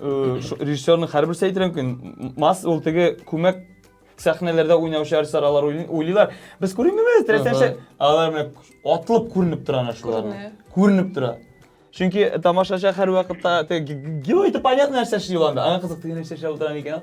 режиссерның һәрбер сәйтере мөмкин масс ул теге күмәк сәхнәләрдә уйнаучы артистлар алар уйлыйлар без күренмибез теләсәчә алар менә атылып күренеп тора ана шулар күренеп тора чөнки тамашачы һәрвакытта герой это понятно нәрсә эшли ул анда аңа кызык теге нәрсә эшләп утыра микән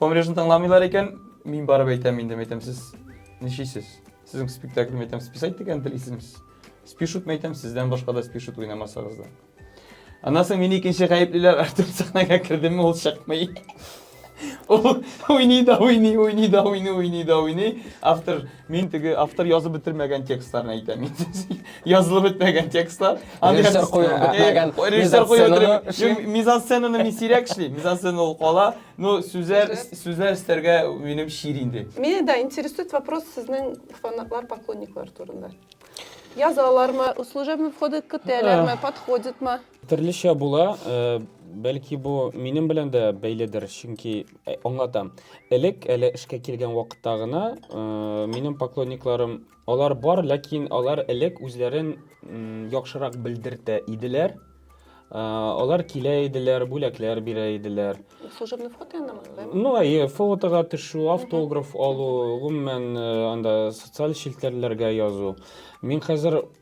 Помрежны тыңламыйлар икән, мин барып әйтәм инде, әйтәм, сез ничисез? Сезнең спектакль әйтәм, списать дигән телисезме? Спишут әйтәм, сездән башка да спишут уйнамасагыз да. Аннан соң мин икенче гаеплеләр Артем сәхнәгә кердеме, ул чыкмый. Уйный да уйный, уйный да уйный, уйный да уйный. Автор Мин теге автор язып бетермәгән текстларны әйтәм. Язылып бетмәгән текстлар. Режиссер куеп бетмәгән Режиссер куеп мизансценаны бетермәгән. эшлим. Юк, Мизансценаны мин сирәк эшлим. Мизансцена ул кала. Ну, сүзләр Сүзләр. сүзләр эстәргә минем чир инде. Мине да интересует вопрос сезнең фанатлар, поклонниклар турында. Язалармы, служебный входы көтәләрме, подходитмы? Төрлечә була, э, бәлки бу минем белән дә бәйледер, чөнки э, аңлатам. Элек әле эшкә килгән вакытта гына э, минем поклонникларым алар бар, ләкин алар элек үзләрен яхшырак белдертә иделәр. Э, алар килә иделәр, бүләкләр бирә иделәр. Служебный фото янымы? Ну, әйе, фотога төшү, автограф алу, гомумән анда социаль челтәрләргә язу. Мин хәзер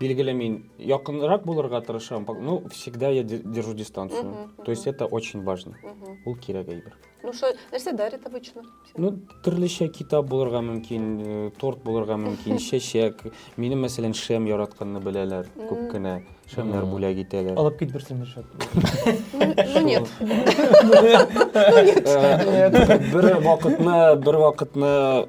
Билгеле мин якынрак булырга тырышам, пок- ну, всегда я де- держу дистанцию. Мгм, мгм. То есть это очень важно. Мгм. Ул кирәк әйбер. Ну что, нәрсә дарит обычно? Ну, төрлечә китап булырга мөмкин, э, торт булырга мөмкин, чәчәк. Мине, мәсәлән, шәм яратканны беләләр Мгм. күп кенә. Шәмнәр Мгм. бүләк итәләр. Алып кит берсен Ришат. Ну, ну нет. Э, Бер вакытны, бер вакытны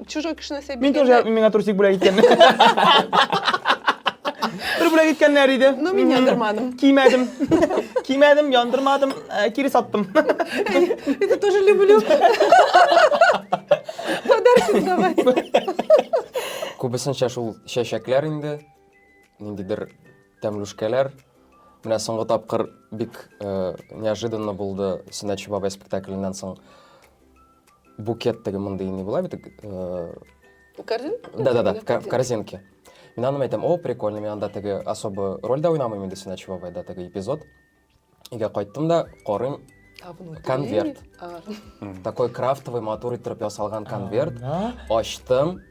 чужой кеше нәрсә Мин тоже биргәндә- миңа трусик бүләк иткәннәр. Бер бүләк иткәннәр иде. Ну, мин Мгм. яндырмадым. Кимәдем. Кимәдем, яндырмадым, ә, кире саттым. Это тоже люблю. Подарки давай. Күбесенчә шул чәчәкләр инде, ниндидер тәмлүшкәләр. Менә соңгы тапкыр бик э, неожиданно булды Сөнәтче бабай спектакленнән соң букет теге мондый не була бит э, корзинка да да да в корзинке мин аны әйтәм о прикольно мин анда теге особо роль да уйнамыйм инде син очевой да теге эпизод өйгә кайттым да карыйм конверт такой крафтовый матур иттереп ясалган конверт ачтым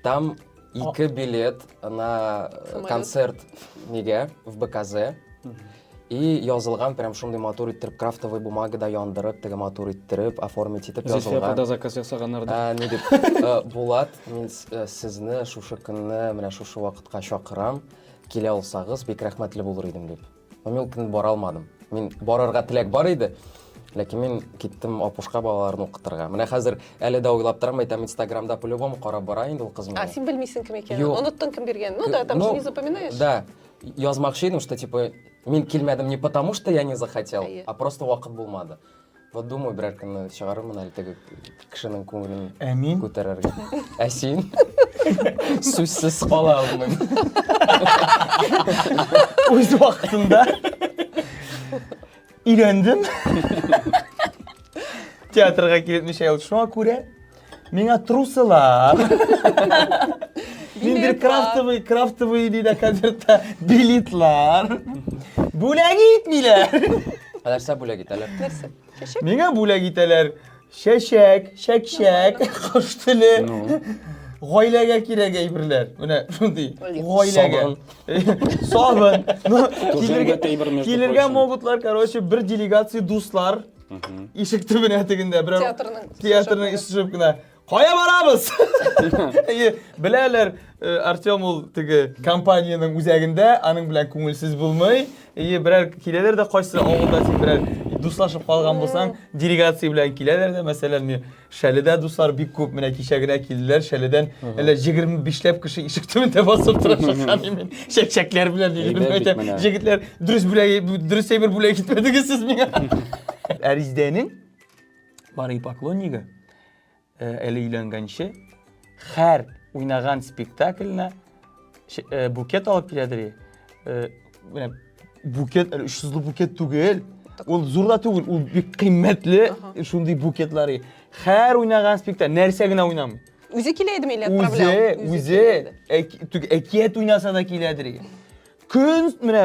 Там ике билет на э, концерт неге в БКЗ. И язылган прям шундый матур иттереп крафтовый бумагада яндырып, теге матур иттереп, оформить итеп язылган. Зифия апада заказ ясаганнар да. Ә, не дип, э, Булат, мин э, сезне шушы көнне менә шушы вакытка чакырам. Килә алсагыз, бик рәхмәтле булыр идем дип. Но мин ул көнне бара алмадым. Мин барырга теләк бар иде. Ләкин мин киттем апушка балаларын укытырга. Менә хәзер әле дә уйлап торам, әйтәм, Инстаграмда по-любому карап бара инде ул кыз мине. А син белмисең кем икәнен. Юк. Оныттың кем биргәнен. Ну да, там Ну, же не запоминаешь. Да. Язмакчы идем, что типа мин килмәдем не потому, что я не захотел, Әйе. а просто вакыт булмады. Вот думаю, берәр көнне чыгарырмын әле теге кешенең күңелен Ә мин? күтәрергә. Ә син? Сүзсез кала алмыйм. Үз вакытында өйрәндем. Театрга килеп ничә ел шуңа күрә. Миңа трусылар. Мин бер крафтовый, крафтовый диде концертта билетлар. Бүләк итмиләр. Нәрсә бүләк итәләр? Нәрсә? Чәчәк? Миңа бүләк итәләр. Чәчәк, чәкчәк, кош теле. Гаиләгә кирәк әйберләр. Менә шундый. Гаиләгә. Сабын. Килергә могутлар, короче, бер делегация дуслар ишек төбенә тегендә берәү театрның ишек төшеп кенә кая барабыз беләләр э, артем ул теге компаниянең үзәгендә аның белән күңелсез булмый и берәр киләләр дә кайсы авылда син берәр дуслашып калган булсаң делегация белән киләләр дә мәсәлән Шәледә дуслар бик күп, менә кичә генә килделәр Шәледән. Әле 25 ләп кеше ишек төбендә басып тора шакан мин. Чәкчәкләр белән диген әйтәм. Җегетләр, дөрес бүләй, дөрес әйбер бүләй китмәдегез сез миңа. Әриздәнең бары поклоннигы әле өйләнгәнче хәр уйнаган спектакльне букет алып киләдер и менә букет әле өч йөзле букет түгел ул зур да түгел ул бик кыйммәтле шундый букетлар и һәр уйнаган спектакль нәрсә генә уйнамый үзе килә идеме или отправлял үзе үзе әкият уйнаса да киләдер и көн менә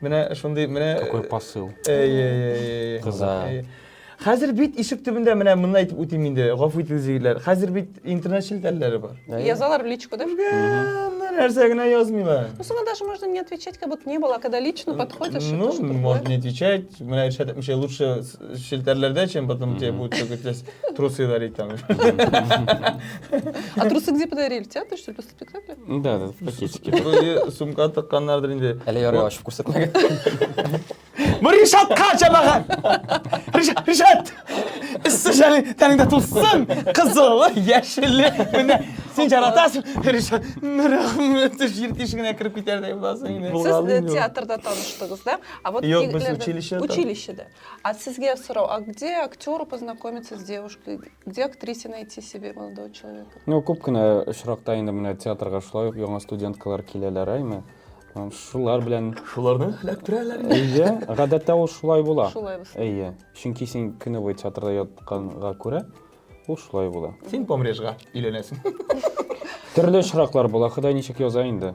Менә шундый, менә... Какой посыл. Әй-әй-әй. Кыза. Хәзер бит ишек төбендә менә монда әйтеп үтим инде, гафу итегез егетләр. Хәзер бит интернет челтәрләре бар. Язалар в личку, да? Нәрсә генә язмыйлар. Ну, соңа даже можно не отвечать, как будто не было, когда лично подходишь. Ну, можно не отвечать. Менә Иршат әйтмешә, лучше челтәрләрдә, чем потом тебе будут трусы дарить там. А трусы где подарили? Тебя, что ли, Спектакль? Да, да, пакетики. Вроде сумка тыкканнардыр инде. Әле ярый ачып күрсәтмәгән. Бу Ришатка җамагат! Ришат, Ришат! Эссе шәли тәнеңдә тулсын! Кызылы, яшелле, менә син жаратасың, Ришат. Рәхмәт, җир тишегенә кереп китәрдәй буласың инде. Сез Булгалый э, мин. театрда таныштыгыз, да? А вот Юк, без егетләрдән- училищеда. Училищеда. А сезгә сорау, а где актеры познакомиться с девушкой? Где актрисе найти себе молодого человека? Ну, күп кенә очракта инде менә театрга шулай ук яңа студенткалар киләләр, әйме. Шулар белән шуларны эләктерәләр. Әйе, гадәттә ул шулай була. Шулай була. Әйе. Чөнки син көне буе театрда ятканга күрә, ул шулай була. Син помрежга өйләнәсең. Төрле очраклар була, Ходай ничек яза инде.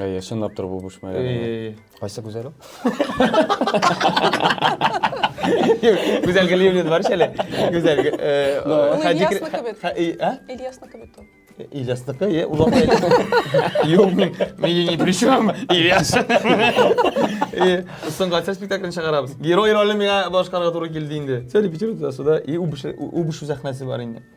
Әйе, чынлап тор бу буш мәгән. Кайсы гүзәл ул? Гүзәл Галиевнин бар шәле. Гүзәл. Ильясныкы бит. Ильясныкы бит ул. Ильясныкы, е, ул апа. Юк, мени ни при чем. Ильяс. Соңга төс спектаклен чыгарабыз. Герой ролен миңа башкарга туры килде инде. Сәли Петербургда суда и убыш убыш сәхнәсе бар инде.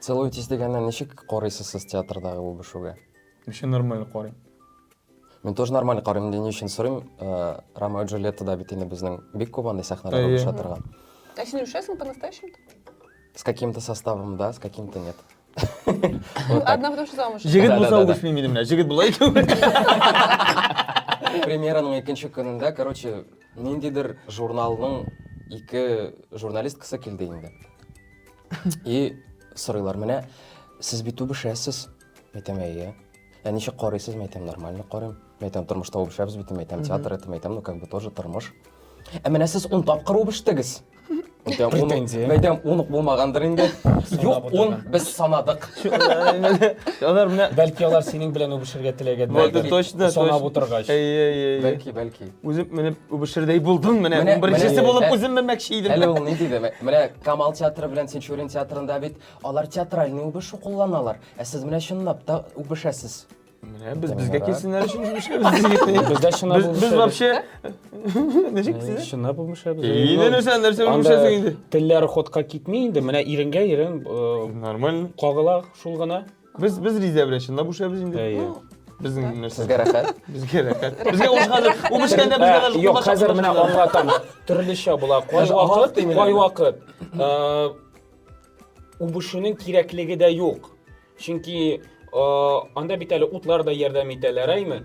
Целуетесь дигәнне ничек карыйсыз сез театрдагы үбешүгә? Вообще нормаль карыйм. Мин тоже нормаль карыйм, инде ни өчен сорыйм, Ромео и Джульеттада бит инде безнең бик күп андый сәхнәләр үбешә торган. Ә син үбешәсеңме по-настоящему-то? С каким-то составом да, с каким-то нет. Одна потому что замуж. Җегет булса үбешмим иде менә, җегет була икән. Премьераның икенче көнендә, короче, ниндидер журналның ике журналисткасы килде инде. И сорыйлар менә, сез бит үбешәсез. Мәйтәм, әйе. Ә ничек карыйсыз? Мәйтәм, нормально карыйм. Мәйтәм, тормышта үбешәбез бит, мәйтәм, театр это, мәйтәм, ну как бы тоже тормыш. Ә менә сез он тапкыр үбештегез. Мәйтәм, он- Претензия. Мәйтәм, он ук булмагандыр инде. Юк, он отырган. без санадык. Алар менә Бәлки алар синең белән үбешергә теләгәннәр. Вот, точно, Санап точно. утыргач. Әйе, әйе, әйе. Бәлки, бәлки. Үзеп менеп үбешердәй булдың менә. Менә- Беренчесе менә- булып үзем менмәкче идем. Әле ул ни диде? Мә- Менә Камал театры белән Тинчурин театрында бит алар театральный үбешү кулланалар. Ә сез менә чынлап та үбешәсез. Менә без безгә килсеннәр өчен җибешәбез. Бездә чынлап Без без вообще ничек сез? Чынлап үбешәбез. Инде нәрсә нәрсә үбешәсең инде. Телләр ходка китми инде. Менә иренгә ирен э, Нормально. кагыла шул гына. Без без риза белән чынлап бушабыз инде. Әйе. Безнең нәрсә. Сезгә рәхәт. Безгә рәхәт. Безгә ул хәзер ул бешкәндә безгә даже Юк, кулач хәзер менә ашатмаслар. аңлатам. Төрлечә була. Кай Даже аңлатып вакыт, тыймыйлар. кай вакыт. Э, Үбешүнең кирәклеге дә юк. Чөнки э, анда бит әле утлар да ярдәм итәләр, әйме?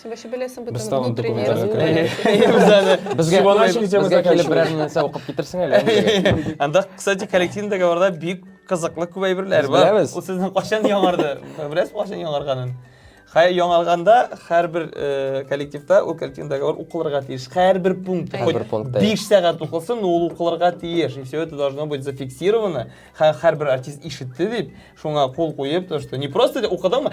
Син вообще беләсең бит Без тагын документ Анда, кстати, коллективында барда бик кызыклы күп әйберләр бар. Ул сезнең кайчан яңарды? Беләсез кайчан яңарганын? Хәй яңарганда һәрбер э, коллективта ул коллективдагы бар укылырга тиеш. Һәрбер пункт. Һәрбер пункт. 5 сәгать укылсын, ул укылырга тиеш. И все это должно быть зафиксировано. Һәрбер артист ишетте дип, шуңа кул куеп, то что не просто укыдыңмы?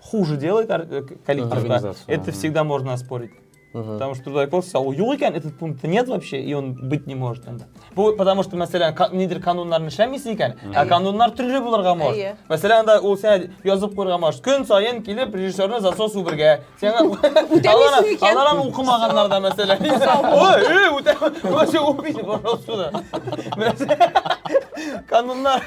хуже делает э, коллектив, угу. да, это всегда можно оспорить. Угу. Потому что туда просто сказал, юлыкен этот пункт нет вообще, и он быть не может. Бу, потому что, мәсәлән, нидер кануннарны эшләмисең икән, ә кануннар төрле булырга может. Мәсәлән, да ул сән язып куйырга может. Көн сайын килеп режиссерны засос убергә. Сиңа алар алар укымаганнар да мәсәлән. Ой, эй, үтә. Вообще убить, пожалуйста. Кануннар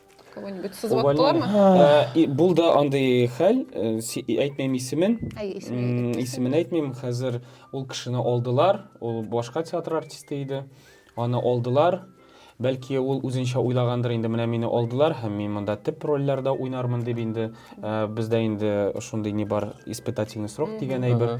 кого-нибудь сызып э, булды андый хәл э, әйтмим исемен исемен әйтмим хәзер ул кешене алдылар ул башка театр артисты иде аны алдылар бәлки ул үзенчә уйлагандыр инде менә мине алдылар һәм мин монда төп рольләрдә уйнармын дип инде э, бездә инде шундый не бар испытательный срок дигән әйбер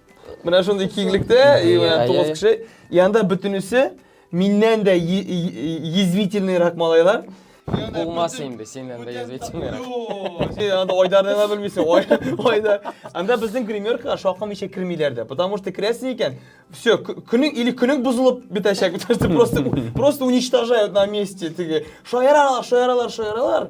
Менә шундый киңлектә, и менә тугыз кеше. Янда бөтенесе миннән дә язвительныйрак малайлар. Булмас инде синнән дә язвительныйрак. Син анда Айдарны да белмисең. Айдар. Анда безнең гримеркага шакым ишә кермиләр дә. Потому что керәсең икән, все, көнең или көнең бузылып бетәчәк. Просто просто уничтожают на месте. Шаяралар, шаяралар, шаяралар.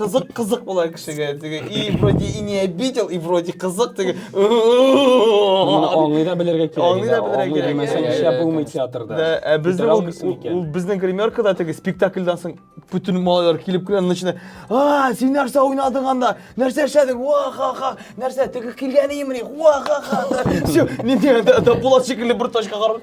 Кызык кызык була кешегә теге и вроде и не обидел и вроде кызык теге. Моны аңлый да белергә кирәк. Аңлый да белергә кирәк. Мәсәлән, Иә, эшләп иә, булмый иә. театрда. Да, ә Бетер безнең ул, алмыйсың ул, икән. ул безнең гримеркада теге спектакльдан соң бүтән малайлар килеп керә, начинай, а, син нәрсә уйнадың анда, нәрсә эшләдең, ва ха ха, нәрсә, теге килгән имри, ва ха ха. Все, не, не, да, да, Булат шикелле бер точка карап.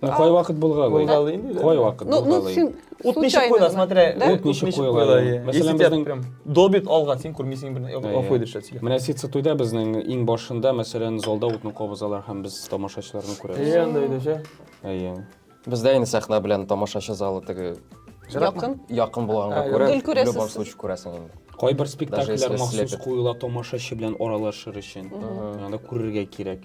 Ну, а, кайвакыт булгалый. Булгалый инде. Кайвакыт ну, ну, булгалый. Ну, Ут ничек куела, смотря. Да? Ут ничек куела. Мәсәлән, безнең прям долбит алган, син күрмисең бер офой дишләп сөйлә. Менә ситса туйда безнең иң башында, мәсәлән, залда утны кабызалар һәм без тамашачыларны күрәбез. Әйе, анда иде, ше. Әйе. Бездә инде сәхнә белән тамашачы залы теге якын. Якын булганга күрә, в любом случае күрәсең инде. Кайбер спектакльләр махсус куела тамашачы белән аралашыр өчен. Анда күрергә кирәк.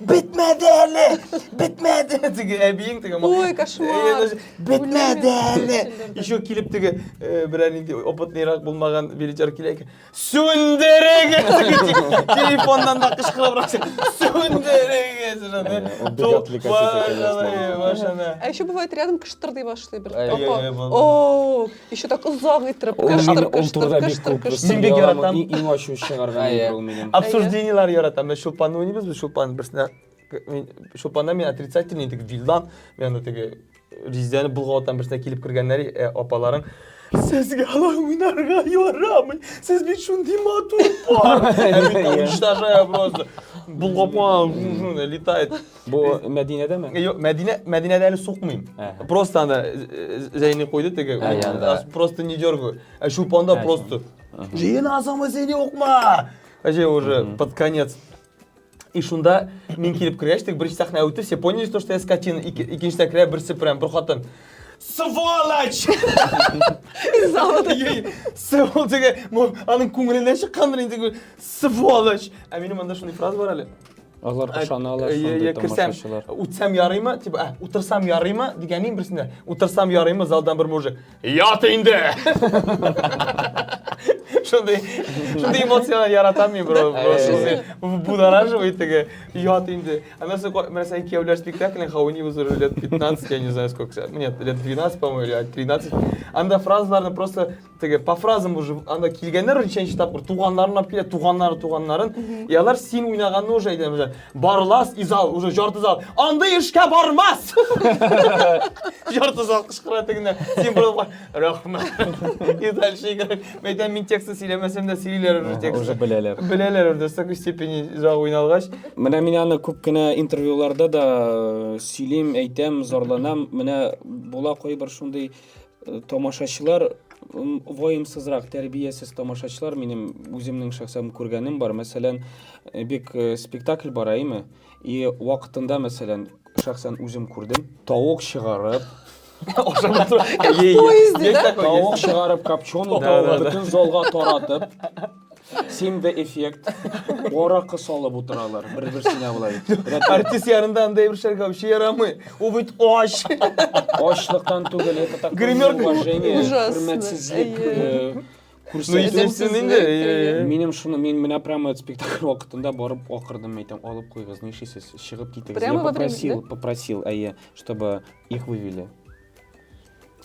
Бетмәде әле! Бетмәде! Теге әбиең теге Ой, кошмар! Э, Бетмәде әле! Еще килеп теге э, берәр нинди опытныйрак булмаган билетер килә икән. Сүндерегез! Телефоннан да кычкырыбрак Сүндерегез! Э, а еще бывает рядом кыштырдый башлый бер. О, Еще так озак иттереп, Ул кыштыр, мине кыштыр, онтырда бик кыштыр, күп кыштыр. Мин бик яратам. яратам. Иң, иң ачу чыгарган Әйе. нидер ул минем. Обсуждениелар яратам. Мен шулпан уйныйбыз, без шулпан берсенә мин шулпанда мин отрицательный теге вилдан, мен анда теге Ризәне болгаватан берсенә килеп кергәннәр э, апаларың. Сезгә алай уйнарга ярамый. Сез бит шундый матур пар. Ә мин уничтожаю просто. Болгап куйган, летает. Бу Мәдинәдәме? Э, юк, Мәдинә, Мәдинәдә әле сукмыйм. Просто анда э, э, Зәйни куйды теге. Ә, Просто не дергаю. Ә шупанда просто. Җыенасыңмы син юкма? Әҗе уже под конец. И шунда мин килеп кергәч, теге беренче сәхнә үтте, все поняли, что я скотина. Икенче сәхнә берсе прям бер хатын. Сволочь! Сволочь! Аның күңеленнән чыккандыр инде. Сволочь! Ә минем анда шундый фраза бар әле. Алар ышаналар шундый тамашачылар. Үтсәм ярыймы? Типа, ә, утырсам ярыймы? Дигәннең берсендә. Утырсам ярыймы? Залдан бер мужик. Ят инде! Шундый, шундый эмоциялар яратам мин, бро. Будораживый теге. Ят инде. Аннан соң, менә сән кияүләр спектаклен хауни узыр лет 15, я не знаю сколько. Нет, лет 12, по-моему, или 13. Анда фразаларны просто теге по фразам уже анда килгәннәр ничәнче тапкыр туганнарын алып килә туганнары туганнарын и алар син уйнаганны уже әйтә уже барлас и зал уже жарты зал андый эшкә бармас жарты зал кычкыра тегенә син барлап рәхмәт и дальше мен әйтәм мин текстын сөйләмәсәм дә сөйлиләр уже текст уже беләләр беләләр уже такой степени зал уйналгач менә мин аны күп кенә интервьюларда да э, сөйлим әйтәм зарланам менә була кайбер шундый Э, тамашачылар ваемсызрак тәрбиясез тамашачылар минем үземнең шәхсән күргәнем бар мәсәлән э, бик э, спектакль бара әйме и вакытында мәсәлән шәхсән үзем күрдем тавык чыгарып тавык чыгарып копченый бөтен залга таратып Симде эффект. Аракы салып утыралар бер-берсенә болай. Рәт- Артист янында андай бер шәргә вообще ярамый. Ул бит ач. Ачлыктан түгел, это такое Гримерка неуважение, ужасно. хөрмәтсезлек. Әйе. э, Ну, күрсәтү. естественно, инде. Әйе, әйе, әйе. Минем шуны, мин менә прямо этот спектакль вакытында барып акырдым, әйтәм, алып куйгыз, нишлисез, чыгып китегез. Прямо Я во время, попросил, попросил, әйе, чтобы их вывели.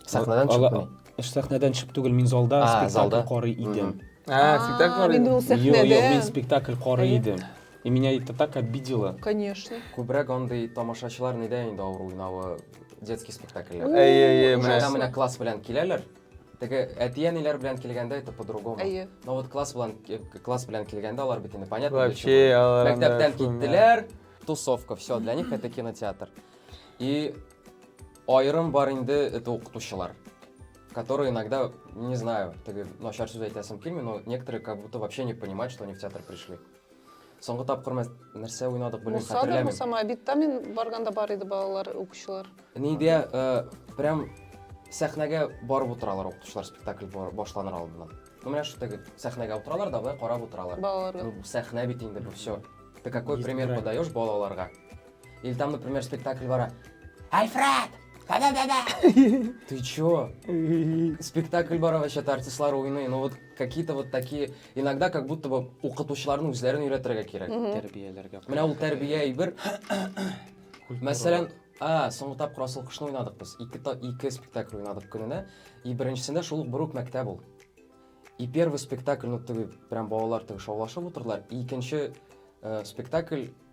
сәхнәдән чып Ала- Эш сәхнәдән чып түгел, мин залда А, спектакль залда. карый идем. А, спектакль бар инде ул инде. Юк, юк, мин сәхнәдә. спектакль карый Әйе. идем. И меня это так обидело. Конечно. Күбрәк андый тамашачылар нидә инде авыр уйнавы детский спектакльләр. Әйе, әйе, Менә менә. менә класс белән киләләр. Теге әти-әниләр белән килгәндә это по-другому. Әйе. Но вот класс белән э, класс белән килгәндә алар бит инде понятно. для чего. Вообще, алар анда Мәктәптән шуны. киттеләр, тусовка, все, для них это кинотеатр. И Аерым бар инде это укытучылар, которые иногда, не знаю, теге начар сүз әйтәсем килми, но некоторые как будто вообще не понимают, что они в театр пришли. Соңгы тапкыр мәс- нәрсә уйнадык, белмим, Муса да хәтерләмим. булсама, бит та мин барганда бар иде балалар, укучылар. Нидә э, прям сәхнәгә барып утыралар укытучылар спектакль бар- башланыр алдыннан. Ну, менә шул теге сәхнәгә утыралар да, былай карап утыралар. Балаларга. Ну, сәхнә бит инде бу все. Ты какой Есть пример грань. подаешь балаларга? Или там, например, спектакль вара. Альфред! Да-да-да-да! Ты чё? Спектакль бара вообще артистлар уйный. Ну вот какие-то вот такие, иногда как будто бы укытучыларның үзләрен өйрәтергә кирәк. Тәрбияләргә. Менә ул тәрбия әйбер. Мәсәлән, а, соңгы тапкыр асыл кошны уйнадык без. Ике, ике спектакль уйнадык көненә. И беренчесендә шул ук Брук мәктәп ул. И первый спектакль, ну, теге, прям балалар теге шаулашып утырдылар. И икенче э, спектакль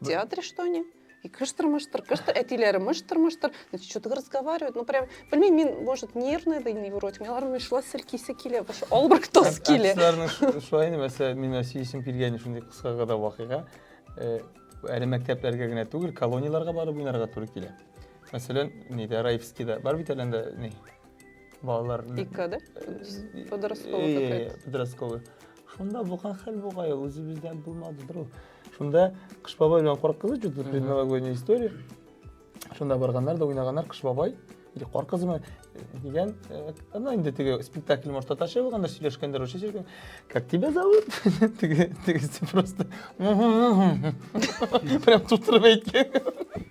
В театре что они? И кыштыр-мыштыр, кыштыр, әтиләре мыштыр-мыштыр. Значит, что-то разговаривают. Ну, прям, блин, мин, может, нервная да невротик. Мен аларның шла сиркисе килә, башы албыр тос килә. Әтиләрнең шулай инде, мәсәлән, мин сөйсем килгән шундый кыска гына вакыйга. Э, әле мәктәпләргә генә түгел, колонияләргә барып уйнарга туры килә. Мәсәлән, нидә, Раевскийда бар бит әле анда, ни, балалар икка да подростковый какая то подростковый шунда булган хәл бугай ул үзебездән булмадыдыр ул шунда кыш бабай белән кар кызы чудо предновогодняя история шунда барганнар да уйнаганнар кыш бабай или кар кызымы дигән ана инде теге спектакль может татарча булганда сөйләшкәндер русча сөйләшкән как тебя зовут теге тегесе просто прям тутырып әйткән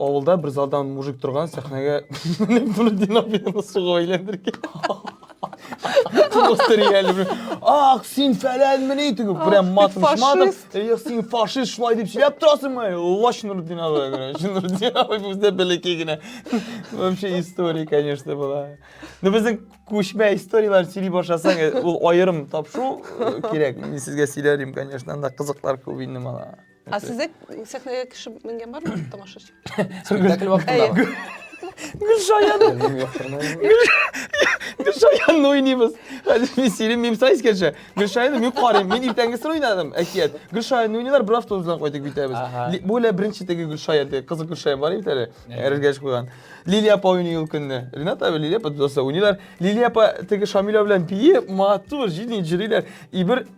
Авылда бер залдан мужик торган сәхнәгә менеп бер динамиканы суга әйләндергән. Просто реально бер, Ах, син фәләнмени дип, прям матым фашист. матым. Эх, син фашист шулай дип сөйләп торасыңмы? Лач Нурдин абый, короче. Нурдин абый бездә бәләкәй генә. Вообще история, конечно, была. Ну безнең күчмә историяләр сөйли башласаң, э, ул аерым тапшу э, кирәк. Мин сезгә сөйләр идем, конечно, анда кызыклар күп инде мала. Ә сездә сәхнәгә кеше менгән бармы тамашачы? Спектакль вакытында. Гөлшаян. Гөлшаян уйныйбыз. Хәзер мин сирим мим сайс кеше. Гөлшаян мин карыйм. Мин иртәнгесен уйнадым әкият. Гөлшаян уйныйлар, бер автобус белән кайтып китәбез. Бу лә беренче теге Гөлшаян, теге кызык Гөлшаян бар бит әле. Эргәш куйган. Лилия апа уйный ул көнне. Ренат абы Лилия апа дусасы уйныйлар. Лилия апа теге Шамилә белән бии матур, җирле җырлыйлар. И бер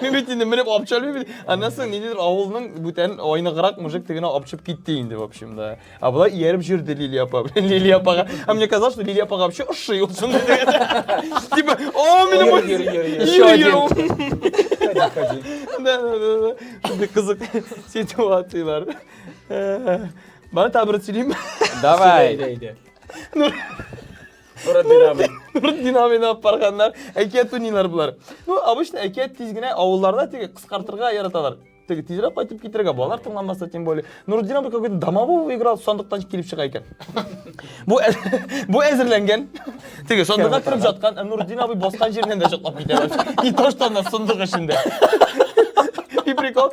Мин бит инде менеп апчалмый бит. Аннан соң ниндидер авылның бүтән айныграк мужик тегенә апчып китте инде, в общем, да. А болар ияреп жүрде Лилия апа. Лилия апага. А мне казалось, что Лилия апага вообще ошый ул шундый. Типа, о, менә бу. Еще один. Да, да, да, да. Шундый кызык ситуациялар. Бана табыр сөйлим. Давай. Әйдә, әйдә. Нуретдин абый. Нуретдин абыйны алып барганнар. Әкият уйныйлар болар. Ну, обычно әкият тиз генә авылларда теге кыскартырга яраталар. Теге тизрәк кайтып китергә балалар тыңламаса тем более. Нуретдин абый какой-то домового играл, сандыктан килеп чыга икән. Бу бу әзерләнгән. Теге сандыкка кирип жаткан, ә Нуретдин абый баскан җиреннән дә чатлап китә. И то, что она в сундук эчендә. И прикол,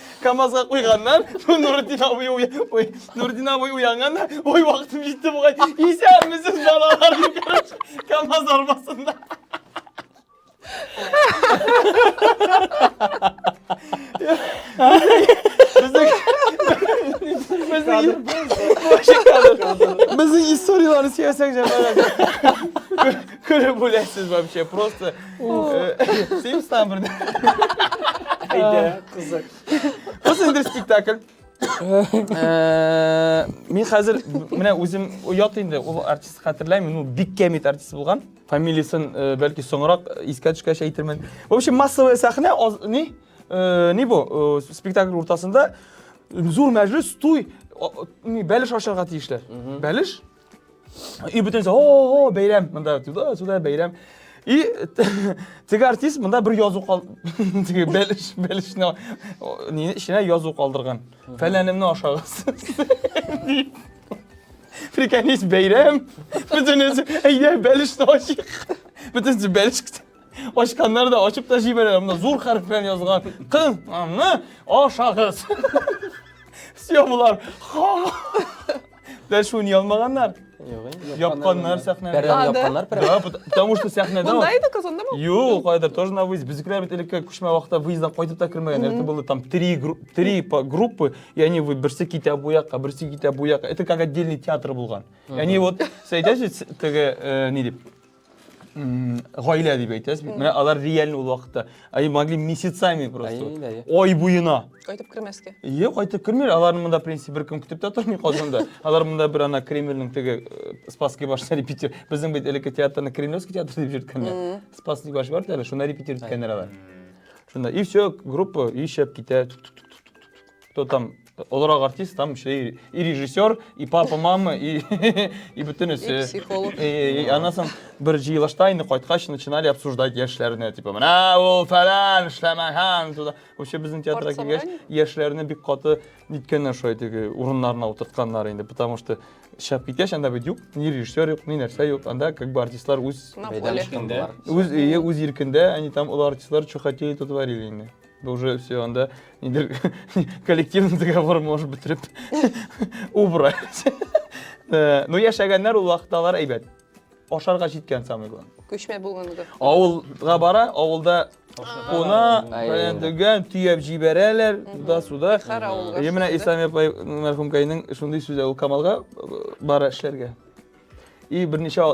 Камазга куйганнар. Бу Нурдин абый уй, уй, Нурдин абый уянганнар. Ой, вакытым җитте бугай. Исәнмесез балалар дип короче, Камаз арбасында. Безнең безнең историяләрне сөйләсәң җәмәгать. Көлеп үләсез вообще просто. Син стан бер. Әйдә, кызык. Кыз инде спектакль. Э, мин хәзер менә үзем оят инде ул артист хәтерләмим ул бик кәмит артист булган фамилиясен э, бәлки соңрак э, искә төшкәч әйтермен в общем массовая сәхнә ни ни бу спектакль уртасында зур мәҗлес туй бәлеш ашарга тиешләр бәлеш И бүтәнсә, о, бәйрәм, монда туда, сюда бәйрәм. И теге артист монда бер язу кал, теге бәлеш, бәлешне нини эченә язу калдырган. Фәләнемне ашагыз. Приколись, бәйрәм. Бүтән үзе, әйдә, бәлешне ашыйк. Бүтән үзе бәлеш китә. Ашканнар да ашып та җибәрә, монда зур хәреф белән язган. Кыз, аны ашагыз. Все булар. Да что, не алмаганнар? Япканнар сәхнә. Пәрдәне япканнар прям. Да, потому что сәхнәдә. Монда иде казанда ма? Юк, кайда тоже на выезд. Безгә бит элекке күчмә вакытта выезддан кайтып та кермәгән. Это было там три три группы, и они вы берсе китә бу якка, берсе китә бу якка. Это как отдельный театр булган. И они вот, сәйдәсез, теге, э, ни дип, гаилә дип әйтәсез бит менә алар реально ул вакытта они могли месяцами просто ай буена кайтып кермәскә иә кайтып кермиләр аларны монда в принципе беркем көтеп тә тормый казанда алар монда бер ана кремльнең теге э, спасский башына репетир безнең бит элекке театрны кремлевский театр дип йөрткәннәр спасский баш бар әле шунда репетир иткәннәр алар шунда и все группа и шәп китә кто там олорак артист, там еще и, и режиссер, и папа, мама, и, и бүтін И өсе. психолог. И, и анан соң бир жыйылышта инде кайткач начинали обсуждать яшьләрне, типа, менә ул фәлән, эшләмәгән, туда. Вообще безнең театрга Спорт килгәч, собрание? яшьләрне бик каты ниткәннәр шулай теге урыннарына утыртканнар инде, потому что шәп киткәч анда бит юк, ни режиссер юк, ни нәрсә юк, анда как бы артистлар үз На Мәйдан поле. чыккан булар. үз өе, үз иркендә, они там ул артистлар что хотели, то творили инде. уже все, анда нидер коллективный договор может бетереп убрать. Э, ну, яшәгәннәр ул вакытта алар әйбәт. Ашарга җиткән самый главное. Күчмә булганлыгы. Авылга бара, авылда куна, фәлән дигән, төяп җибәрәләр, да суда. Менә Исламия мәрхүмкәйнең шундый сүзе ул Камалга э, бара эшләргә. И берничә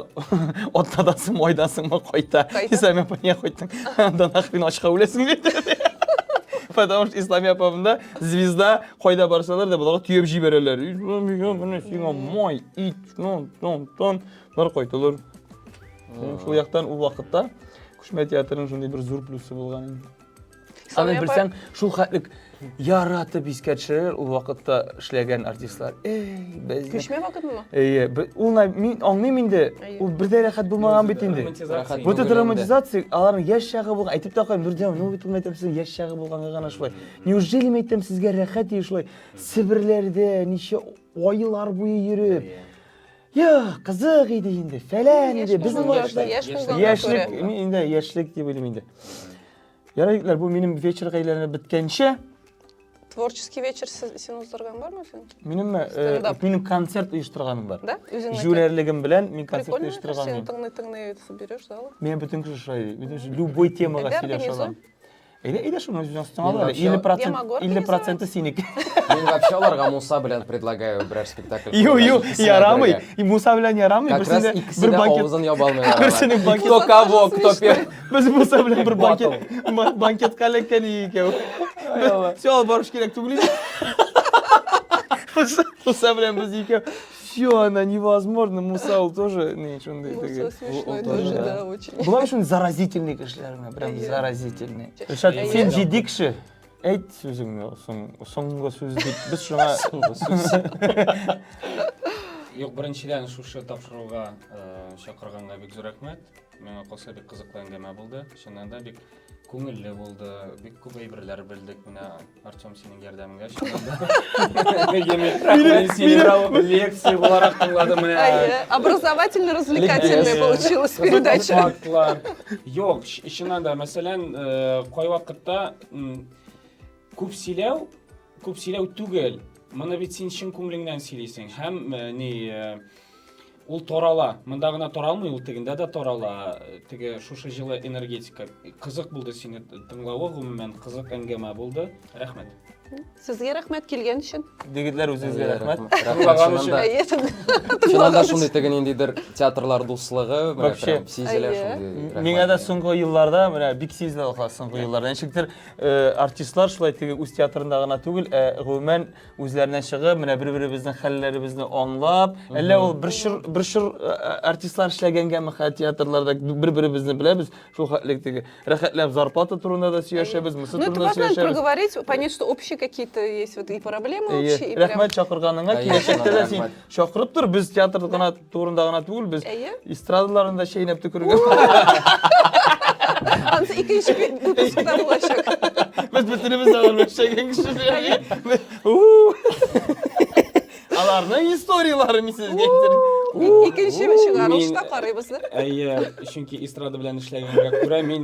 атнадасың, айдасыңмы кайта. Исәме пәне кайттың. Анда нахрен ачка үләсең бит. Потому что Ислами апамда звезда кайда барсалар да буларга төяп җибәрәләр. Ислами менә сиңа май, ит, тон, тон, тон. Бар кайтылыр. Шул яктан ул вакытта Күчмә театрының шундый бер зур плюсы булган инде. Аны белсәң, шул хәтлек яратып искә төшерәләр ул вакытта эшләгән артистлар. Эй, без Күчмә вакытмы? Әйе, ул мин аңлыйм инде. Ул бердә рәхәт булмаган бит инде. Бу да романтизация, аларның яшь чагы булган. Әйтеп тә куям, Нурдиан, ну бит әйтәм сезнең яшь чагы булганга гына шулай. Неужели мин әйтәм сезгә рәхәт ди шулай? Себерләрдә ничә айлар буе йөреп, Йо, кызык иде инде, фәлән иде, безнең вакытта яшьлек, инде яшьлек дип уйлыйм инде. Ярай, егетләр, бу минем вечер әйләнеп беткәнче. Творческий вечер син уздырган бармы син? Минем э, минем концерт оештырганым бар. Да? Үзеңнеке? Җүләрлегем белән мин концерт оештырган. Син тыңны тыңны берешь, да? Мин бүтән кеше шулай. Мин любой темага сөйләшә алам. Әйдә, әйдә шуны үзенә алып. 50% 50% синеке. Мин вообще аларга Муса белән предлагаю берәр спектакль. Ю, ю, ярамый. И Муса белән ярамый. Как раз икесе дә авызын яба алмый. Берсенең банкет. Кто кого, кто первый. Без Муса белән бер банкет, ма- банкетка эләккән идек икәү. Без все алып барыш кирәк түгел иде. Муса белән без икәү. Все, она невозможно. Муса ул тоже не шундый Муса теге. смешной Ул тоже, тоже, да. да, очень. Болар шундый заразительный кешеләр менә, прям Әйе. заразительный. Ришат, Әйе. син җитди кеше. Әйт сүзеңне, соң- соңгы сүз дип без шуңа Юк, беренчедән шушы тапшыруга э, чакырганга бик зур рәхмәт. Миңа калса бик кызыклы әңгәмә булды. Чыннан да бик күңелле булды. Бик күп әйберләр белдек. Менә Артем синең ярдәмеңә чыннан да. Мин сине бу лекция буларак тыңладым менә. Әйе, образовательно развлекательный получилась передача. Фактлар. Юк, чыннан да, мәсәлән, э, кайвакытта күп сөйләү, күп сөйләү түгел. Моны бит син чын күңелеңнән сөйлисең һәм э, ни э, Ул тарала. Монда гына таралмый, ул тегендә дә тарала. Теге шушы җылы энергетика. Кызык булды сине тыңлавы, гомумән кызык әңгәмә булды. Рәхмәт. Сезгә рәхмәт килгән өчен. Дигетләр үзегезгә рәхмәт. Тыңлаган өчен. Әйе, Шуннан да шундый теге ниндидер театрлар дуслыгы, менә прям сизелә шундый. Миңа да соңгы елларда, менә бик сизелә ул соңгы елларда. Ничектер э, артистлар шулай теге үз театрында гына түгел, ә гомумән үзләренә чыгып, менә бер-беребезнең хәлләребезне аңлап, әллә ул бер чор бер чор э, э, артистлар эшләгәнгәме хә театрларда бер-беребезне беләбез, шул хәтлек теге. Рәхәтләп зарплата турында да сөйләшәбез, мысы Ну, это турында важно сөйләшәбез. проговорить, понять, что общие какие-то есть вот и проблемы общие, и прям... Рәхмәт чакырганыңа, Конечно, киләчәктә дә син рәхмәт. чакырып тор, без театр гына турында гына түгел, без эстрадаларын да чәйнәп төкергән. Ансы икенче выпускта булачак. Без бөтенебез дә алар чәйгән кеше. Аларның историяләре мин сезгә әйттерим. Икенче чыгарылышта карыйбыз. Әйе, чөнки эстрада белән эшләгәнгә күрә мин